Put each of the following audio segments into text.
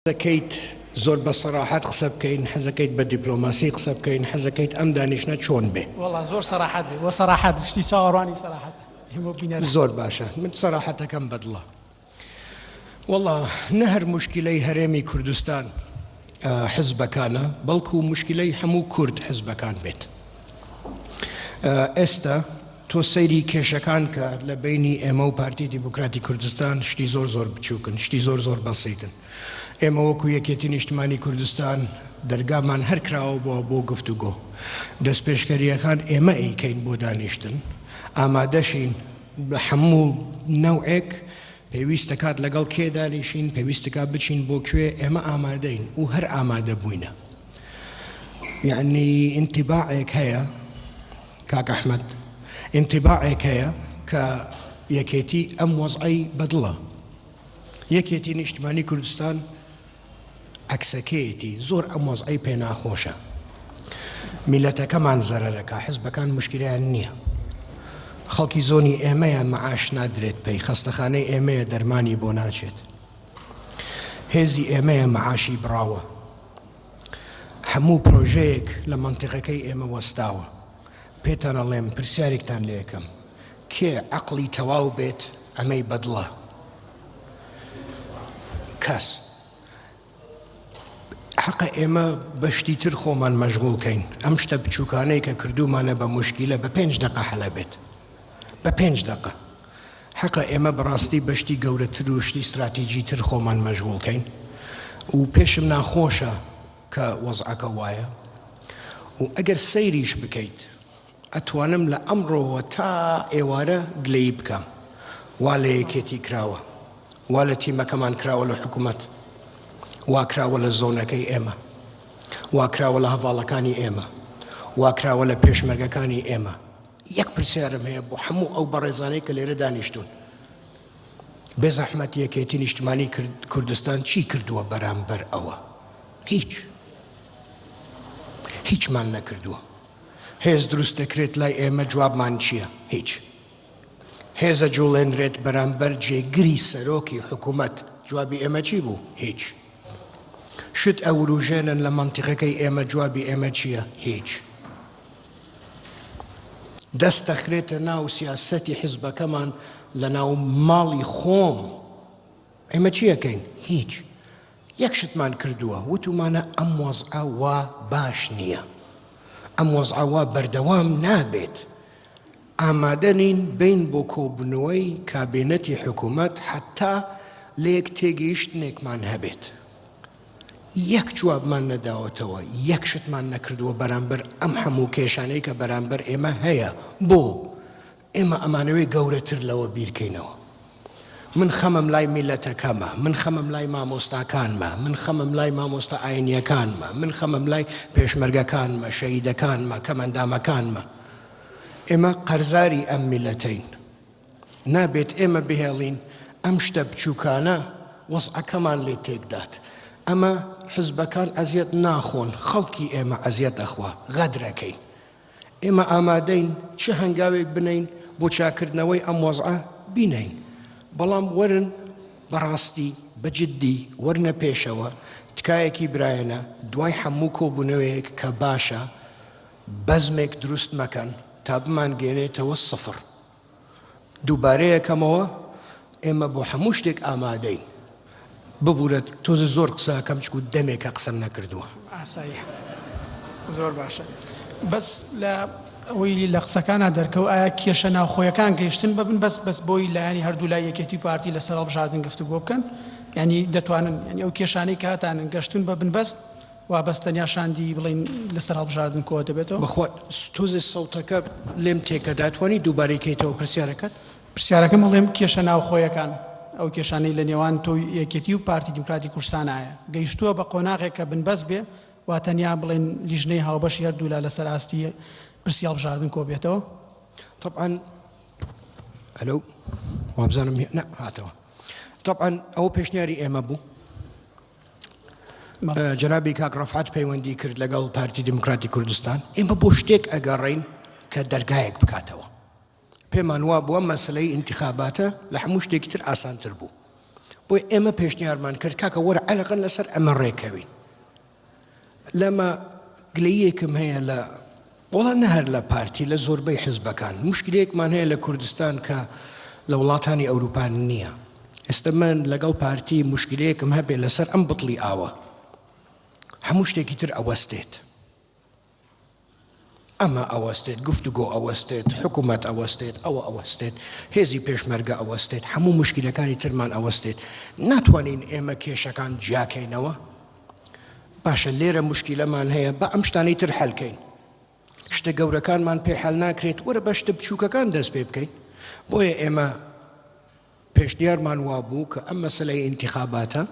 حەزەکەیت زۆر بە سەراحەت قسە بکەین حەزەکەیت بە دیپلۆماسی قسە بکەین حەزەکەیت ئەم دانیشتنە چۆن بێ؟ وەڵا زۆر سەراحەت بێ وە سەراحەت شتی چاوەڕوانی سەراحەتە ئێمە و بینەران. زۆر باشە من سەراحەتەکەم بەدڵە وەڵا نە هەر موشکیلەی هەرێمی کوردستان حزبەکانە بەڵکو موشکیلەی هەموو کورد حزبەکان بێت ئێستا تۆ سەیری کێشەکان کە لە بەینی ئێمە و پارتی دیموکراتی کوردستان شتی زۆر زۆر بچووکن، شتی زۆر زۆر بەسیتن. ئێمە وەکوو یەکێتی نیشتمانی کوردستان دەرگامان هەر کراوە بووە بۆ گفتوگۆ. دەستپێشکەرییەکان ئێمە ئەیکەین بۆ دانیشتن. ئامادەشین بە هەموو نەوعێک پێویست دەکات لەگەڵ کێ دانیشین، پێویست دەکات بچین بۆ کوێ، ئێمە ئامادەین و هەر ئامادە بووینە. یەعنی ئینتیباعێک هەیە کاک ئەحمەد، ئینتیباعێک هەیە کە یەکێتی ئەم وەزعەی بەدڵە. یەکێتی نیشتمانی کوردستان، عەکسەکەیەتی زۆر ئەم وەزعەی پێ ناخۆشە میلەتەکەمان زەرەرەکا حزبەکان مشکلەیان نییە خەڵکی زۆنی ئێمەیە مەعاش نادرێت پێی خەستەخانەی ئێمەیە دەرمانی بۆ ناچێت هێزی ئێمەیە مەعاشی بڕاوە هەموو پرۆژەیەک لە منتیقەکەی ئێمە وەستاوە پێتان ئەڵێم پرسیارێکتان لەکەم کێ عقلی تەواو بێت ئەمەی بەدڵە کەس حەقە ئێمە بە شتی تر خۆمان مەشغول کەین ئەم شتە بچووکانەی کە کردومانە بە مشکیلە بە پێنج دقە حەلە بێت بە پێنج دقە حەقە ئێمە بەڕاستی بەشتی گەورەتر و شتی استراتیجی تر خۆمان مەشغول کەین و پێشم ناخۆشە کە وەزعەکە وایە و ئەگەر سەیریش بکەیت ئەتوانم لە ئەمڕۆوە تا ئێوارە گلەیی بکەم وا لە یەکێتی کراوە وا لە تیمەکەمان کراوە لە حکوومەت واکراوە لە زۆنەکەی ئێمە واکراوە لە هەڤاڵەکانی ئێمە واکراوە لە پێشمەرگەکانی ئێمە یەک پرسیارم هەیە بۆ هەموو ئەو بەڕێزانەی کە لێرە دانیشتون بێزەحمەت یەکێتی نیشتمانی کوردستان چی کردووە بەرامبەر ئەوە هیچ هیچمان نەکردووە هێز دروست دەکرێت لای ئێمە جوابمان چیە؟ هیچ. هێز ئەجوڵێنرێت بەرامبەر جێگری سەرۆکی حکومەت جوابی ئێمە چی بوو؟ هیچ. شت ئەوروژێنن لە مەنتیقەکەی ئێمە جوابی ئێمە چیە؟ هیچ. دەست دەخرێتە ناو سیاسەتی حزبەکەمان لە ناو ماڵی خۆم ئێمە چیەکەین؟ هیچ. یەک شتمان کردووە، وتومانە ئەم وەزعە وا باش نییە، ئەم وەزعە وا بەردەوام نابێت، ئامادەنین بین بۆ کۆبوونەوەی کابینەتی حکومەت حەتا لەیەک تێگەیشتنێکمان هەبێت. یەک جوابمان نەداوەتەوە، یەک شتمان نەکردووە بەرامبەر ئەم هەموو کێشانەی کە بەرامبەر ئێمە هەیە، بۆ؟ ئێمە ئەمانەوێ گەورەتر لەوە بیرکەینەوە. من خەمم لای میللەتەکەمە، من خەمم لای مامۆستاکانمە، من خەمم لای مامۆستا ئاینییەکانمە، من خەمم لای پێشمەرگەکانمە، شەهیدەکانمە، کەمەندامەکانمە. ئێمە قەرزاری ئەم میللەتەین. نابێت ئێمە بهێڵین ئەم شتە بچووکانە وەزعەکەمان لێ تێکدات. ئەمە حزبەکان ئەزیەت ناخۆن، خەڵکی ئێمە ئەزیەت ئەخوا. غەدرەکەین. ئێمە ئامادەین چ هەنگاوێک بنێین بۆ چاکردنەوەی ئەم وەزعە بینێین، بەڵام وەرن بەڕاستی بە جددی وەرنە پێشەوە، تکایەکی برایانە دوای هەموو کۆبوونەوەیەک کە باشە بەزمێک دروست مەکەن تا بمانگەیەنێتەوە سفر. دووبارەیەکەمەوە ئێمە بۆ هەموو شتێک ئامادەین ببورە تۆزە زۆر قسەکەم چکو دەمێکە قسەم نەکردووە ئاسایی زۆر باشە بەس لە ئەوەی لە قسەکانە دەرکەوت ئایا کێشە ناوخۆیەکان گەیشتن ببن بەس بەس بۆی لایانی هەردوو لای یەکێتی پارتی لەسەر هەڵبژاردن گفتوگۆ بکەن ینی دەتوانن ینی ئەو کێشانەی کاتانن گەشتن بە بنبەست وا بەس تەنیا شاندی بڵێین لەسەر هەڵبژاردن کۆ دەبێتەوە. بەخوا تۆزێ سەوتەکە لێم تێکە دەتوانی دووبارەی کەیتەوە پرسیارەکەت؟ پرسیارەکەم ئەڵێم کێشە ناوخۆیەکان ئەو کێشانەی لە نێوان تۆو یەکێتی و پارتی دیموکراتی کوردستان هەیە گەیشتووە بە قۆناغێک کە بنبەست بێ وا تەنیا بڵێن لیژنەی هاوبەشی هەردوولا لەسەر ئاستی پرسی هەڵبژاردن کۆ بێتەوە؟ طبعا ئەلو وابزانم نە هاتەوە طبعا ئەوە پێشنیاری ئێمە بوو جەنابی کاک ڕەفعەت پەیوەندی کرد لەگەڵ پارتی دیموکراتی کوردستان ئێمە بۆ شتێک ئەگەڕین کە دەرگایەک بکاتەوە پێمان وا بووە مەسلەی ئینتخاباتە لە هەموو شتێکی تر ئاسانتر بوو بۆی ئێمە پێشنیارمان کرد کاکە وەرە عەلەقەن لەسەر ئەمە ڕێکەوین لەمە گلەیەکم هەیە لە وەڵا نە هەر لە پارتی لە زۆربەی حزبەکان موشکیلەیەکمان هەیە لە کوردستان کە لە وڵاتانی ئەوروپا نیە ئێستە من لەگەڵ پارتی موشکیلەیەکم هەبێ لەسەر ئەم بتڵی ئاوە هەموو شتێکی تر ئەوەستێت ئەمە ئەوەستێت گفتوگۆ ئەوەستێت حکوومەت ئەوەستێت ئەوە ئەوەستێت هێزی پێشمەرگە ئەوەستێت هەموو مشکلەکانی ترمان ئەوەستێت ناتوانین ئێمە کێشەکان جیاکەینەوە باشە لێرە مشکیلەمان هەیە با ئەم شتانەی تر حەلکەین شتە گەورەکانمان پێ حەل ناکرێت وەرە بە شتە بچووکەکان دەست پێ بکەین بۆیە ئێمە پێشنیارمان وابوو کە ئەم مەسلەی ئینتخاباتە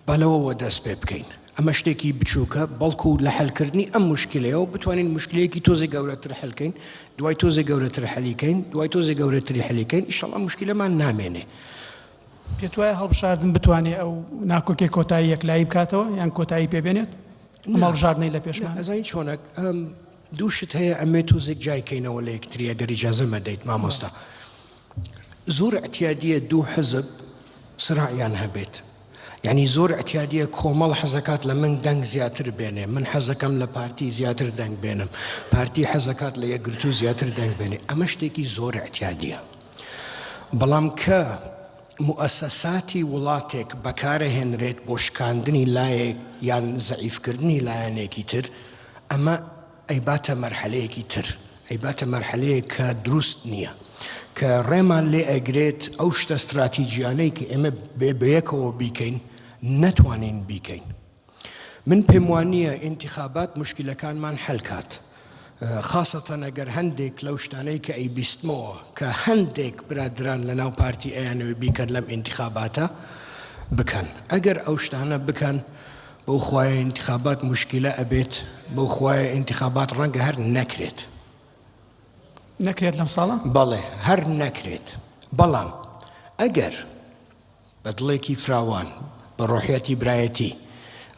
بەلەوەوە دەست پێ بکەین ئەمە شتێکی بچووکە بەڵکو و لە حلکردنی ئەم مشکلەیەوە بتوانین مشکلەیەکی تۆزی گەورەتر حلکەین دوای تۆزی گەورەتر حەلیکەین دوای تۆزی گەورەتری حەلیکەین شڵە مشکلەمان نامێنێ پێتوایە هەڵبژاردن بتوانێت ئەو ناکۆکیە کۆتایی یەکلایی بکاتەوە یان کۆتایی پێ بێنێت مەڵژاردنەی لە پێشمان ئەزین چۆنە دوو شت هەیە ئەمێ توزێک جایکەینەوە لە یەکتریە گەری جازە مەدەیت مامۆستا زۆر ئەتیادیە دوو حزب سراعیان هەبێت یعنی زۆر ئەتیادیە کۆمەڵ حەزەکات لە من دەنگ زیاتر بێنێ من حەزەکەم لە پارتی زیاتر دەنگ بێنم پارتی حەزەکات لە یەکگرتو زیاتر دەنگ بێنێ ئەمە شتێکی زۆر ئەتیادیە بەڵام کە موئەسەساتی وڵاتێک بەکارەهێنرێت بۆ شکاندنی لایەک یان زەعیفکردنی لایەنێکی تر، ئەمە ئەیباتە مەرحەلەیەکی تر، ئەیباتە مەرحەلەیەک کە دروست نییە، کە ڕێمان لێ ئەگرێت ئەو شتە ستراتیجییانەی کە ئێمە بێ بەیەکەوە بیکەین، نەتوانین بیکەین. من پێم وانییە ئینتیخابات موشکیلەکانمان حەل کات، خاسەتەن ئەگەر هەندێک لەو شتانەی کە ئەیبیستمەوە کە هەندێک برادەران لەناو پارتی ئەیانەوێ بیکەن لەم ئینتیخاباتە بکەن، ئەگەر ئەو شتانە بکەن بەو خوایە ئینتیخابات موشکیلە ئەبێت، بەو خوایە ئینتیخابات ڕەنگە هەر نەکرێت. نەکرێت لەم ساڵە؟ بەڵێ هەر نەکرێت، بەڵام ئەگەر. بە دڵێکی فراوان، بە ڕۆحیەتی برایەتی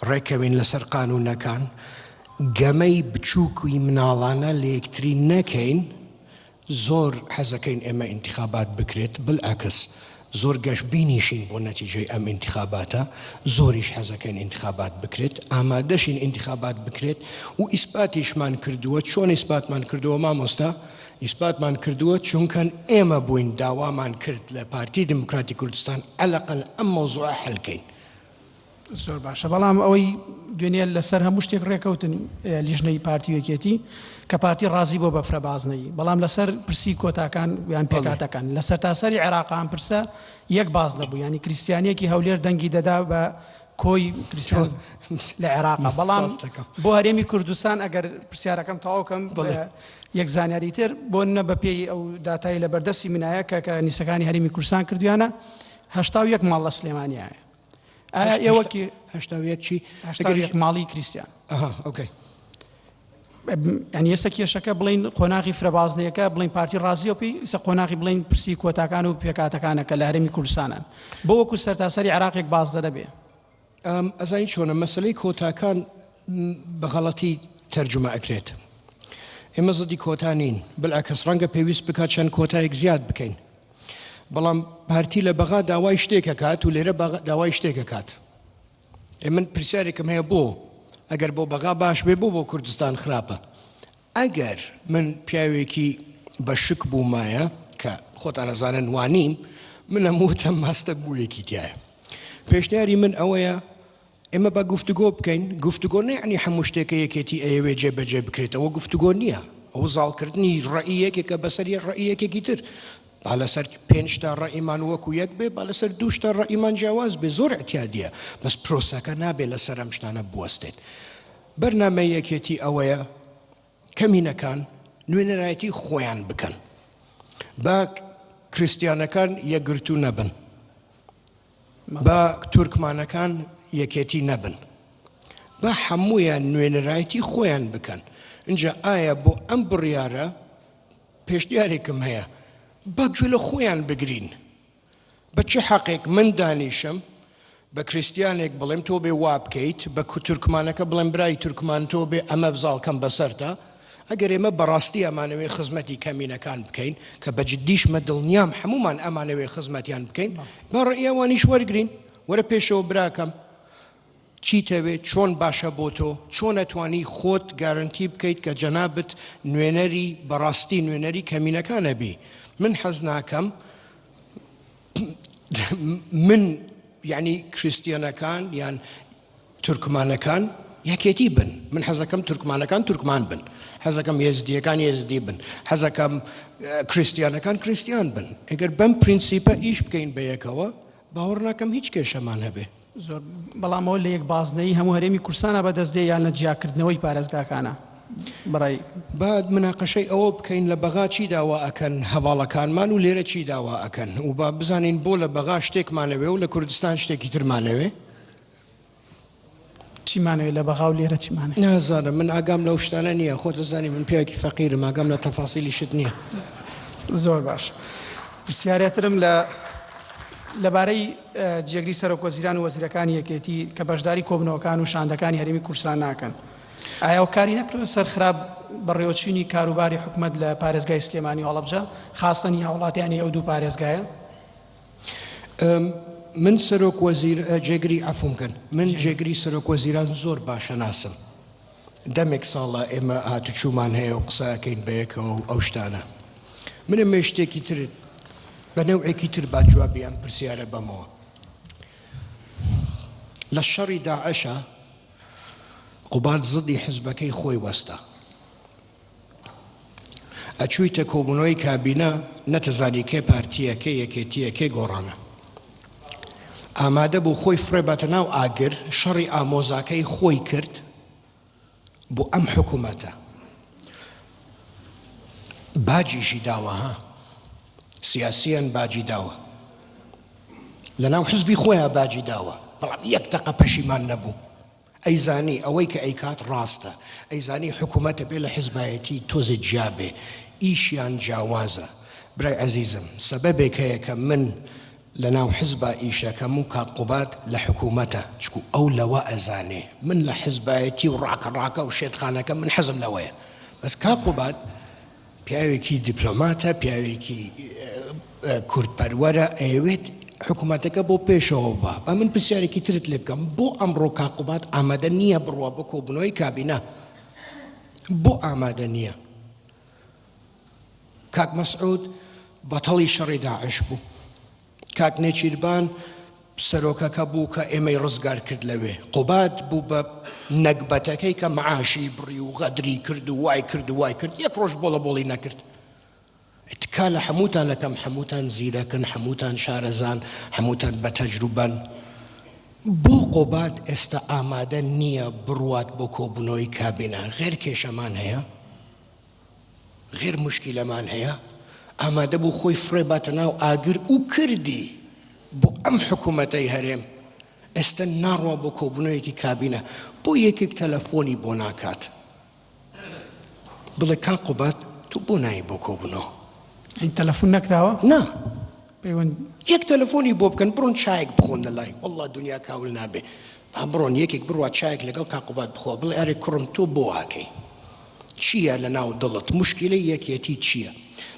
ڕێککەوین لەسەر قانوونەکان، گەمەی بچووک و مناڵانە لە یەکتری نەکەین، زۆر حەزەکەین ئێمە ئینتیخابات بکرێت، بلعکس زۆر گەشبینیشین بۆ نەتیجەی ئەم ئینتیخاباتە، زۆریش حەزەکەین ئینتیخابات بکرێت، ئامادەشین ئینتیخابات بکرێت و ئیسباتیشمان کردووە، چۆن ئیسباتمان کردووە مامۆستا؟ ئیسباتمان کردووە چونکەن ئێمە بووین داوامان کرد لە پارتی دیموکراتی کوردستان ئەلەقەل ئەم مەوزوعە حەل کەین. زۆر باشە بەڵام ئەوەی دوێنێ لەسەر هەموو شتێک ڕێکەوتن لیژنەی پارتی و یەکێتی کە پارتی ڕازی بۆ بەفرە بازنەیی بەڵام لەسەر پرسی کۆتاکان یان پێکاتەکان لە سەرتاسەری عێراق ئەم پرسە یەک باز نەبوو ینی کریسیانیەکی هەولێر دەنگی دەدا بە کۆی کریستیان لە عێراقە بەڵام بۆ هەرێمی کوردستان ئەگەر پرسیارەکەم تەواو کەم یەک زانیاری تر بۆ نە بە پێی ئەو داتایی لە بەردەستی منایە کە کە نیسەکانی هەرمی کوردستان کردویانە هشتا یەک ماڵ لە سلێمانیایە ئایا ئێوەکی هشتا یەکی ماڵی کریسیان ئەها ئۆکەی یانی ئێستا کێشەکە بڵین قۆناغی فرە بازنەیەکە بڵین پارتی ڕازیە پێی ئیسە قۆناغی بڵین پرسی کۆتاکان و پێکاتەکانە کە لە هەرمی کوردستانن بۆ وەکو سەرتاسەری عراقێک بازدە دەبێ ئەزانی چۆنە مەسلەی کۆتاکان بەغەڵەتی تەرجمە ئەکرێت ئێمە زدی کۆتا نین بلعکەس ڕەنگە پێویست بکات چەند کۆتایەک زیاد بکەین بەڵام پارتی لە بەغا داوای شتێکە کات و لێرە داوای شتێکە کات ئێ من پرسیارێکم هەیە بۆ ئەگەر بۆ بەغا باش بێ بۆ بۆ کوردستان خراپە ئەگەر من پیاوێکی بە شک بوومایە کە خۆتانەزانن وانیم من لە موتە ماستە بوویەکی تایە پێشنیاری من ئەوەیە ئێمە بە گفتوگۆ بکەین گفتوگۆ نەعنی هەموو شتێکە یەکێتی ئەیەوێ جێ بەجێ بکرێتەوە گفتوگۆ نییە ئەو زاڵکردنی ڕێی یەکێکە بەسەر یە ڕێی یەکێکی تر با لەسەر پێنج تا ڕەئیمان وەکو یەک بێ با لەسەر دوو تا ڕەئیمان جیاواز بێ زۆر ئیعتیادیە بەس پرۆسەکە نابێ لەسەر ئەم شتانە بوەستێت بەرنامەی یەکێتی ئەوەیە کەمینەکان نوێنەرایەتی خۆیان بکەن با کریسیانەکان یەکگرتوو نەبن با تورکمانەکان یەکێتی نەبن با هەمویان نوێنەرایەتی خۆیان بکەن اینجا ئایا بۆ ئەم بڕیارە پێشنیارێکم هەیە با گوێ لە خۆیان بگرین بە چ حەقێک من دانیشم بە کریستیانێک بڵێم تۆ بێ وابکەیت بە کوتورکمانەکە بڵێم برای تورکمان تۆ بێ ئەمە بزاڵکەم بەسەرتا ئەگەر ئێمە بەڕاستی ئەمانەوەی خزمەتی کەمینەکان بکەین کە بە جدیشمە دڵنیام هەمومان ئەمانەوەی خزمەتیان بکەین با ڕێیاوانیش وەرگین وەرە پێشەوە براکەم چیتەوێت چۆن باشە بۆتۆ چۆن ئەتوانی خۆت گارەنتی بکەیت کە جەنابت نوێنەری بەڕاستی نوێنەری کەمینەکان نەبی من حەز ناکەم من یعنی کریستیەنەکان یان تورکمانەکان یەکێتی بن من حەزەکەم تورکمانەکان تورکمان بن حەزەکەم هێزدیەکان هێزدی بن حەزەکەم کریسیانەکان کریسیان بن ئەگەر بەم پرینسیپە ئیش بکەین بە یەکەوە باوەڕ ناکەم هیچ کێشەمان هەبێ. زۆر بەڵام ئەوە لە یەک بازنەیی هەموو هەرێمی کورسانا بە دەست دێ یان لە جیا کردنەوەی پارێزگاکانە بەڕای. با مناقەشەی ئەوە بکەین لە بەغا چی داوا ئەکەن هەڤاڵەکانمان و لێرە چی داوا ئەکەن و با بزانین بۆ لە بەغا شتێکمان ئەوێ و لە کوردستان شتێکی ترمان ئەوێ. چی مانەوێ لە بەغا و لێرە چی مانەوێ. نازانم من ئاگام لەو شتانە نییە خۆت دەزانی من پیاوێکی فەقیرم ئاگام لە تەفاسیلی شت نییە. زۆر باش پرسیارێترم لە لەبارەی جێگری سەرۆک وەزیران و وەزیرەکانی یەکێتی کە بەشداری کۆبنەوەکان و شاندەکانی هەرێمی کوردستان ناکەن ئایا و کاری نەکردە سەر خراپ بەڕێوەچینی کاروباری حکومت لە پارێزگای سلێمانی و هەڵبجە خاستەنی هاوڵاتیانی ئەو دوو پارێزگایە من سەرۆک وەزیر جێگری عفوم کەن من جێگری سەرۆک وەزیران زۆر باشە ناسم دەمێک ساڵە ئێمە هاتوچوومان هەیە و قساکەین بەیەکەوە و ئەو شتانە منە مێ شتێکی ترت بە نەوعێکی تر با جوابی ئەم پرسیارە بەمەوە لە شەڕی داعشە قوباد زدی حزبەکەی خۆی وەستا ئەچویتە کۆبونەوەی کابینە نەتەزانی کێ پارتیە کێ یەکێتیە کێ گۆڕانە ئامادە بوو خۆی فڕێ بەتە ناو ئاگر شەڕی ئامۆزاکەی خۆی کرد بۆ ئەم حکوومەتە باجیشی داوە ها سیاسیان باجی داوە لە ناو حزبی خۆیان باجی داوە بەڵام یەک تەقە پەشیمان نەبوو ئەیزانی ئەوەی کە ئەیکات ڕاستە ئەیزانی حکومەتە بێ لە حیزبایەتی تۆزێ جیا بێ ئیشیان جیاوازە برای ئەزیزم سەبەبێک هەیە کە من لە ناو حیزبا ئیشەکەم و کاک قوباد لە حکومەتە چکو ئەو لەوە ئەزانێ من لە حیزبایەتی و ڕاکە ڕاکە و شێتخانەکە من حەزم لەوەیە بەس کاک قوباد پیاوێکی دیپلۆماتە، پیاوێکی کوردپەروەرە، ئەیەوێت حکومەتەکە بۆ پێشەوە با. با من پرسیارێکی ترت لێ بکەم، بۆ ئەمڕۆ کاک قوباد ئامادە نییە بڕوا بۆ کۆبوونەوەی کابینە؟ بۆ ئامادە نییە؟ کاک مەسعود بەتەڵی شەڕی داعش بوو، کاک نێچیربان سەرۆکەکە بوو کە ئێمەی ڕزگار کرد لەوێ قوباد بوو بە نەگبەتەکەی کە معاشی بڕی و غەدری کرد و وای کرد و وای کرد یەک ڕۆژ بۆڵە بۆڵی نەکرد تکا لە حەموتانەکەم حەموتان زیرەکن حەموتان شارەزان حەموتان بە تەجروبەن بۆ قوباد ئێستا ئامادە نییە بڕوات بۆ کۆبوونەوەی کابینە غێر کێشەمان هەیە؟ غێر موشکیلەمان هەیە ئامادەبوو خۆی فڕێ باتە ناو ئاگر و کردی بۆ ئەم حکومەتەی هەرێم ئێستە ناڕوا بۆ کۆبونەوەیەکی کابینە بۆ یەکێک تەلەفۆنی بۆ ناکات بڵێ کاک قوباد تۆ بۆ نایی بۆ کۆبونەوە؟ تەلەفون نەکراوە؟ نا. پەیوەند یەک تەلەفۆنی بۆ بکەن بڕۆن چایەک بخۆن لە لای واللە دنیا کاول نابێ ئا بڕۆن یەکێک بڕوات چایەک لەگەڵ کاک قوباد بخۆ بڵێ ئەرێ کوڕم تۆ بۆ واکەی چییە لە ناو دڵت موشکیلەی یەکێتیت چییە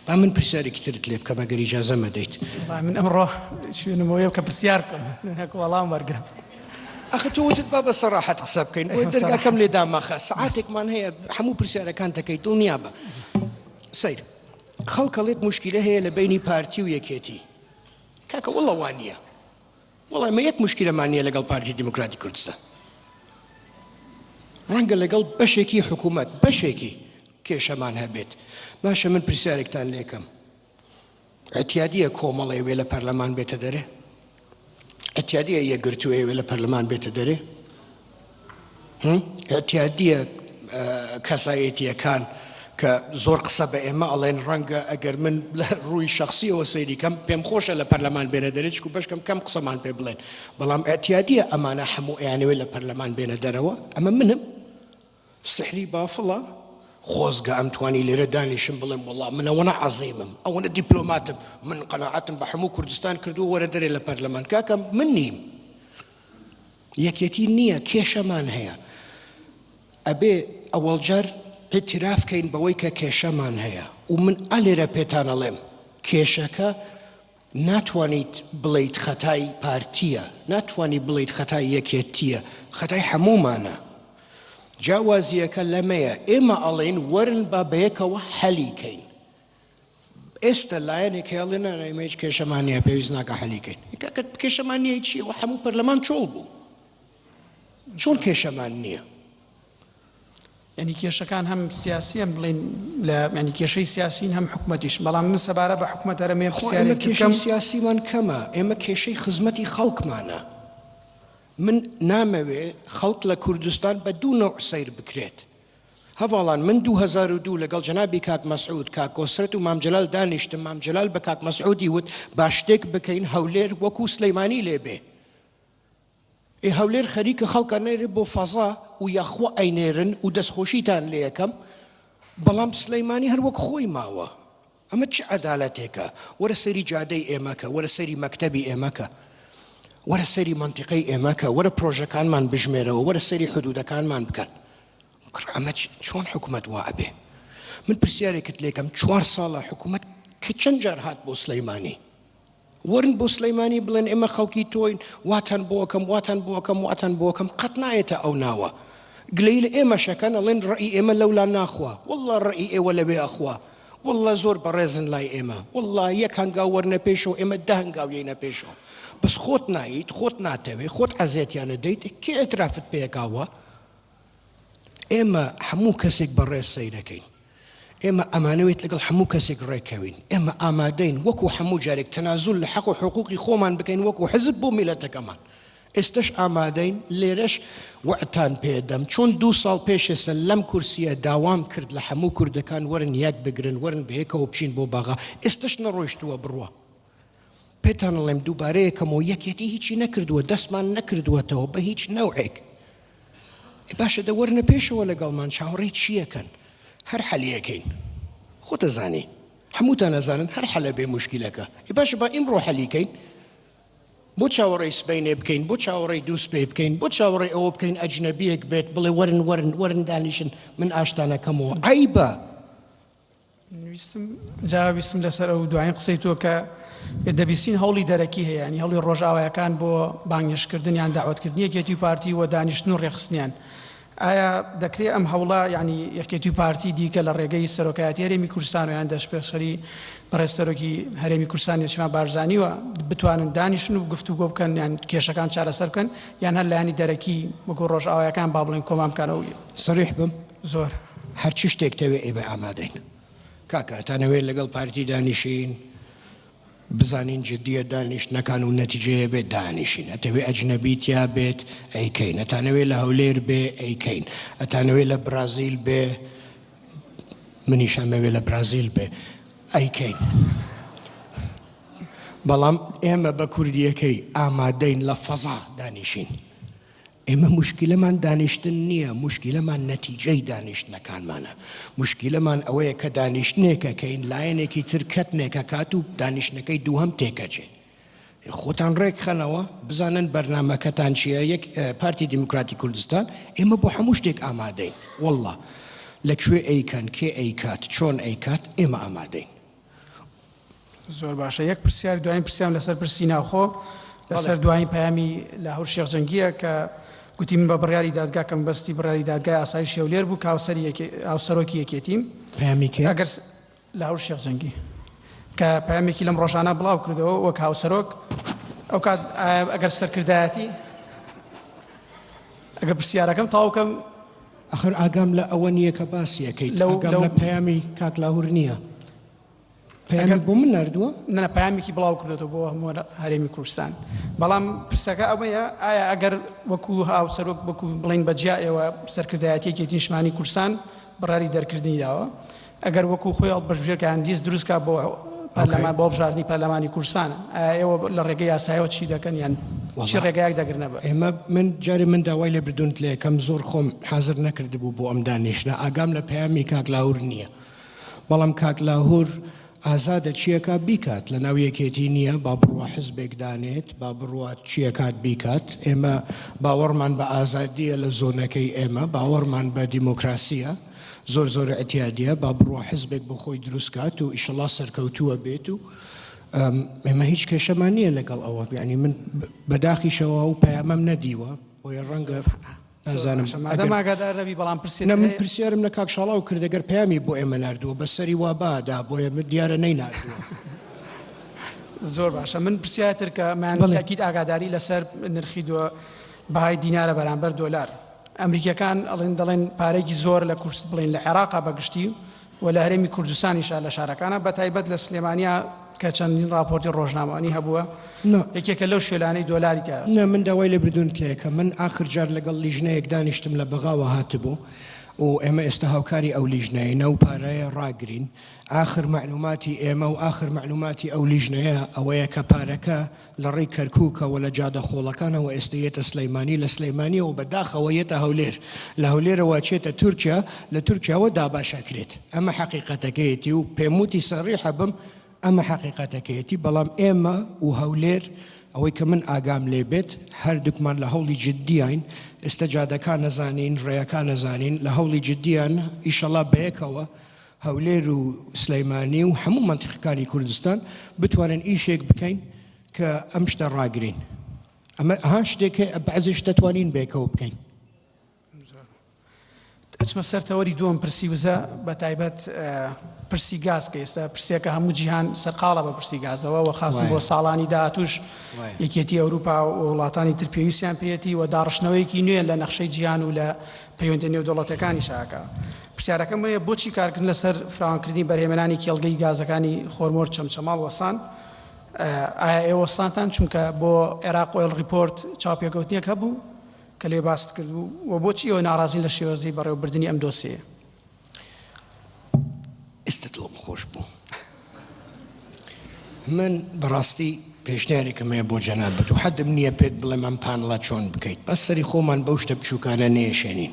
با من پرسیارێکی ترت لێ بکەم ئەگەر ئیجازە مەدەیت با من ئەمڕۆ شوێنمەوە یەو کە پرسیار بکەم هەک وەڵام وەرگرم ئەخە تۆ وتت با بە سەراحەت قسە بکەین بۆیە دەرگاکەم لێ داماخە سەعاتێکمان هەیە هەموو پرسیارەکان دەکەیت دڵنیا بە سەیر خەڵکەڵێت موشکیلە هەیە لە بەینی پارتی و یەکێتی کاکە وەڵا وانیە وەڵا مە یەک مشکلەمان نیە لەگەڵ پارتی دیموکراتی کوردستان ڕەنگە لەگەڵ بەشێکی حکوومەت بەشێکی کێشەمان هەبێت باشە من پرسیارێکتان لێکەم ئەتیادیە کۆمەڵێ وێ لە پەرلەمان بێتە دەرێ ئەتیادیە یەکگرتوو ئێوێ لە پەرلەمان بێتە دەرێ ئەتیادیە کەسایەتیەکان کە زۆر قسە بە ئێمە ئەڵێن ڕەنگە ئەگەر من لە ڕووی شخصیەوە سەیریکەم پێم خۆشە لە پەرلەمان بێنە دەرێت و بەشکەم کەم قسەمان پێ بڵێن بەڵام ئەتیادیە ئەمانە هەموو ئەیانەوێت لە پەرلەمان بێنە دەرەوە ئەمە منم سحری بافڵە خۆزگە ئەمتوانی لێرە دانیشم بڵێم وەڵا من ئەوەنە عەزیمم ئەوەنە دیپلۆماتم من قەناعەتم بە حەموو کوردستان کردووە وەرە دەرێ لە پەرلەمان کاکە من نیم یەکێتی نییە کێشەمان هەیە ئەبێ ئەوەڵجار اعتراف کەین بەوەی کە کێشەمان هەیە و من ئەلێرە پێتانەڵێم کێشەکە ناتوانیت بڵێیت خەتای پارتیە، ناتوانیت بڵێیت خەتای یەکێتیە، خەتای هەموومانە. جیاوازییەکە لەمەیە، ئێمە ئەڵێین وەرن با بەیەکەوە حەلی کەین. ئێستە لایەنێک هەیە ئەڵێ نا نا ئێمە هیچ کێشەمان نییە، پێویست ناکا حەلی کەین. کاکە کێشەمان نییە چییە؟ وە هەموو پەرلەمان چۆڵ بوو. چۆن کێشەمان نییە؟ یانی کێشەکان هەم سیاسیەن بڵین لە ینی کێشەی سیاسین هەم حکومەتیش بەڵام من سەبارە بە حکومەت هەرمێ پرسیارێک کێشەم سیاسیمان کەمە ئێمە کێشەی خزمەتی خەڵکمانە من نامەوێ خەڵک لە کوردستان بە دوو نەوع سیر بکرێت هەواڵان من 2002 لەگەڵ جەنابی کاک مەسعود کاکۆسرەت و مامجلال دانیشتم مامجلال بە کاک مەسعودی وت با شتێک بکەین هەولێر وەکو سلەیمانی لێبێ ئێ هەولێر خەریکە خەڵک ئەنێرێ بۆ فەزا و یاخوا ئەینێرن و دەستخۆشیتان لێکەم بەڵام سلەیمانی هەر وەک خۆی ماوە ئەمە چ عەدالەتێکە وەرە سەیری جادەی ئێمەکە وەرە سەیری مەکتەبی ئێمەکە وەرە سەیری مەنتیقەی ئێمەکە وەرە پرۆژەکانمان بژمێرەوە وەرە سەیری حدودەکانمان بکەن کڕ ئەمە چۆن حکوومەت وا ئەبێ من پرسیارێکت لێکەم چوار ساڵە حکوومەت کە چەند جار هات بۆ سلەیمانی وەرن بۆ سلیمانی بڵێن ئێمە خەڵکی تۆین واتان بۆکەم واتان بۆکەم واتان بۆکەم قەت نایێتە ئەو ناوە گلەی لە ئێمە شەکەن ئەڵێن ڕئی ئێمە لەولا ناخوا والله ڕئی ئێوە لەوێ ئەخوا والله زۆر بەڕێزن لای ئێمە والله یەک هەنگاو وەرنە پێشەوە ئێمە دە هەنگاویەینە پێشەوە بەس خۆت ناییت خۆت ناتەوێت خۆت عەزێتیانە دەیت کێ ئەترافت پێکاوە ئێمە هەموو کەسێک بەڕێز سەیرەکەین. ئێمە ئەمانەوێت لەگەڵ هەموو کەسێک ڕێککەوین. ئێمە ئامادەین وەکو هەموو جارێک تەنازول لە حەق و حقوقی خۆمان بکەین وەکو حزب بۆ میللەتەکەمان. ئێستەش ئامادەین. لێرەش وەعدتان پێدەم چۆن دوو ساڵ پێش ئێستە لەم کورسییە داوام کرد لە هەموو کوردەکان وەرن یەک بگرن، وەرن بەیەکەوە بچین بۆ بەغا. ئێستەش نەڕۆیشتووە بڕوا. پێتان ئەڵێم دووبارە یەکەمەوە یەکێتی هیچی نەکردووە دەستمان نەکردووەتەوە بە هیچ نەوعێک باشە دە وەرنە پێشەوە لەگەڵمان چاوەڕی چیەکەن هەر حەلیەکەین خۆتەزانی هەمووتان ئەزانن هەر حەلە بێ مشکلەکە ئی باشە با ئیمڕۆ حەلیکەین بۆ چاوەڕی سبینێ بکەین بۆ چاوەڕی دووس پێ بکەین بۆ چاوەڕی ئەوە بکەین ئەجنەبیەک بێت بڵێ وەرن وەرن وەرن دانیشن من ئاشتانەکەمەوە ئایبە ویستم جا ویستم لەسەر ئەو دوایین قسەی تۆ کە دەبیستین هەوڵی دەرەکی هەیە ینی هەڵی ڕۆژاوایەکان بۆ بانگشکردن یان داوتکردنی یەکێتی و پارتی و دانیشتن و ڕێخستنیان ئایا دەکرێ ئەم هەوڵە ینی یەکێتی و پارتی دیکە لە ڕێگەی سەرۆکایەتی هەرێمی کوردستان و یان دەشپێشخەری بەڕێستەرۆکی هەرێمی کوردستان نێچمان بارزانانیوە بتوانن دانیشن و گفتوگۆ بکەن یان کێشەکان چارەسەر بکەن یان هەر لایانی دەرەکی وەکو ڕۆژاوایەکان با بڵێن کۆمان بکەنەوە سریح بم زۆر. هەر چ شتێک تەوێ ئێمە ئامادەین. کاکە ئەتانەوێت لەگەڵ پارتی دانیشین بزانین جدیە دانیشتنەکان و نەتیجەیە بێت دانیشین ئەتەوێ ئەجنەبی تیا بێت ئەیکەین ئەتانەوێ لە هەولێر بێ ئەیکەین ئەتانەوێ لە برازیل بێ منیش ئەمەوێ لە برازیل بێ ئەیکەین بەڵام ئێمە بە کوردیەکەی ئامادەین لە فەزا دانیشین ئێمە موشکیلەمان دانیشتن نییە، موشکیلەمان نەتیجەی دانیشتنەکانمانە، موشکیلەمان ئەوەیە کە دانیشتنێک ئەکەین لایەنێکی تر کەتنێک ئەکات و دانیشتنەکەی دووهەم تێکئەچێت. خۆتان ڕێکخەنەوە، بزانن بەرنامەکەتان چییە، یەک پارتی دیموکراتی کوردستان، ئێمە بۆ هەموو شتێک ئامادەین، وەڵڵا لە کوێ ئەیکەن، کێ ئەیکات، چۆن ئەیکات، ئێمە ئامادەین. زۆر باشە یەک پرسیار دوایین پرسیام لەسەر پرسی ناوخۆ لەسەر دوایین پەیامی لاهور شێخ جەنگیە کە گوتی من بە بڕیاری دادگا کەم بەستی بڕیاری دادگای ئاسایش هێولێر بوو کە هاوسەری یەکێ- هاوسەرۆکی یەکێتیم پەیامی کێ؟ ئەگەر س- لاهور شێخ جەنگی کە پەیامێکی لەم ڕۆژانە بڵاو کردەوە وەک هاوسەرۆک ئەو کات ئایا ئەگەر سەرکردایەتی ئەگەر پرسیارەکەم تەواو کەم ئەخر ئاگام لە ئەوە نیە کە باسی ئەکەیت لەو ئاگام لەو... لە پەیامی کاک لاهور نیە پەیامی ئەگەر... بۆ من نردووە نە پەیامێکی بڵاو کردێتەوە بۆ هەموو هەرێمی کوردستان بەڵام پرسەکە ئەوەیە ئایا ئەگەر وەکو هاوسەرۆک وەکو بڵین بە جیائەوە سەرکردایەتیەکی نیشمانی کوردستان بڕاری دەرکردنی داوە ئەگەر وەکو خۆی هەڵپەرژێرکە هەندیس دروست کات بۆ پەرلەمان بۆ هەڵبژاردنی پەرلەمانی کوردستان ئایا ئێوە لە ڕێگەی یاسایەوە چی دەکەن یان چی ڕێگایەک دەگرنە بەر؟ ئێمە من جارێ من داوای لێ بردوون لە یەکەم زۆر خۆم حازر نەکردبوو بۆ ئەم دانیشتنە ئاگام لە پەیامی کاک لاهور نییە بەڵام کاک لاهور ئازادە چیەکا بیکات لە ناو یەکێتی نییە با بڕوا حزبێک دانێت با بڕوات چیەکات بیکات ئێمە باوەڕمان بە ئازادیە لە زۆنەکەی ئێمە باوەڕمان بە دیموکراسیە زۆر زۆر اعتیادیە با بڕوا حزبێک بۆ خۆی دروست کات و ئیشەڵا سەرکەوتووە بێت و ئێمە هیچ کێشەمان نییە لەگەڵ ئەوە ینی من بەداخیشەوە و پەیامەم نەدیوە بۆیە ڕەنگە نازانمگادارەبی بەڵام پرسێ من پرسیارم لە کاک شڵاو کردەگەر پامی بۆ ئێمە نردووە بە سەری وا بادا بۆیە من دیارە نەی نردووە زۆر باشە من پرسیاتر کە مانکیت ئاگاداری لەسەر نرخی دووە بەهای دینارە بەرامبەر دۆلار ئەمریکیەکان ئەڵێن دەڵێن پارەیەکی زۆر لە کورس بڵێن لە عێراقا بە گشتی و لە هەرێمی کوردستانیشا لە شارەکانە بە تایبەت لە سلێمانیا کە چەندین ڕاپۆرتی ڕۆژنامەوانی هەبووە یەکێکە لەو شوێنانەی دۆلاری تا نە من داوای لە بردون کەیەکە من ئاخر جار لەگەڵ لیژنەیەک دانیشتم لە بەغاوە هاتبوو و ئێمە ئێستا هاوکاری ئەو لیژنەیە نەو پارەیە ڕاگرین ئاخر معلوماتی ئێمە و ئاخر معلوماتی ئەو لیژنەیە ئەوەیە کە پارەکە لە ڕێی کەرکوکەوە لە جادە خۆڵەکانەوە ئێستە یێتە سلێمانی لە سلێمانیەوە بە داخەوە یێتە هەولێر لە هەولێرەوە ئەچێتە تورکیا لە تورکیاوە دابەش ئەکرێت ئەمە حەقیقەتەکەیەتی و پێم وتی سەڕیحە بم ئەمە حەقیقەتەکەیەتی بەڵام ئێمە و هەولێر ئەوەی کە من ئاگام لێ بێت هەردووکمان لە هەوڵی جددیین ئێستە جادەکان نەزانین ڕێیەکان نەزانین لە هەوڵی جددییانە ئیشەڵا بەیەکەوە هەولێر و سلیمانی و هەموو مەنتیقەکانی کوردستان بتوانن ئیشێک بکەین کە ئەم شتە ڕاگرین ئەمە ها شتێکە بەعزیش دەتوانین بێکەوە بکەین ئەچمە سەر تەوەری دووەم پرسی وزە بە تایبەت پرسی گاز کە ئێستا پرسیەکە هەموو جیهان سەرقاڵە بە پرسی گازەوە و خاصی بۆ ساڵانی داهاتوش یەکێتی ئەوروپا و وڵاتانی تر پێویستیان پێێتی و داڕشتنەوەیەکی نوێ لە نەخشەی جیهان و لە پەیوەندە نێودوڵەتەکانی شاکە پرسیارەکەم ئەوەیە بۆچی کارکردن لەسەر فراوانکردنی بەرهێمەنانی کێڵگەی گازەکانی خۆرمۆر چەمچەماڵ وەستان؟ ئایا ئێوە وەستانتان چونکە بۆ عێراق ئۆیڵ ڕیپۆرت چاوپێکەوتنێک هەبوو کە لێ باست کردبوو؟ وە بۆچی ئێوە ناڕازین لە شێوەزەی بەڕێوەبردنی ئەم دۆسێیە؟ من بەڕاستی پێشنیارێکم هەیە بۆ جەنابت و حەدم نییە پێت بڵێم ئەم پانڵە چۆن بکەیت بەس سەری خۆمان بەو شتە بچووکانە نێشێنین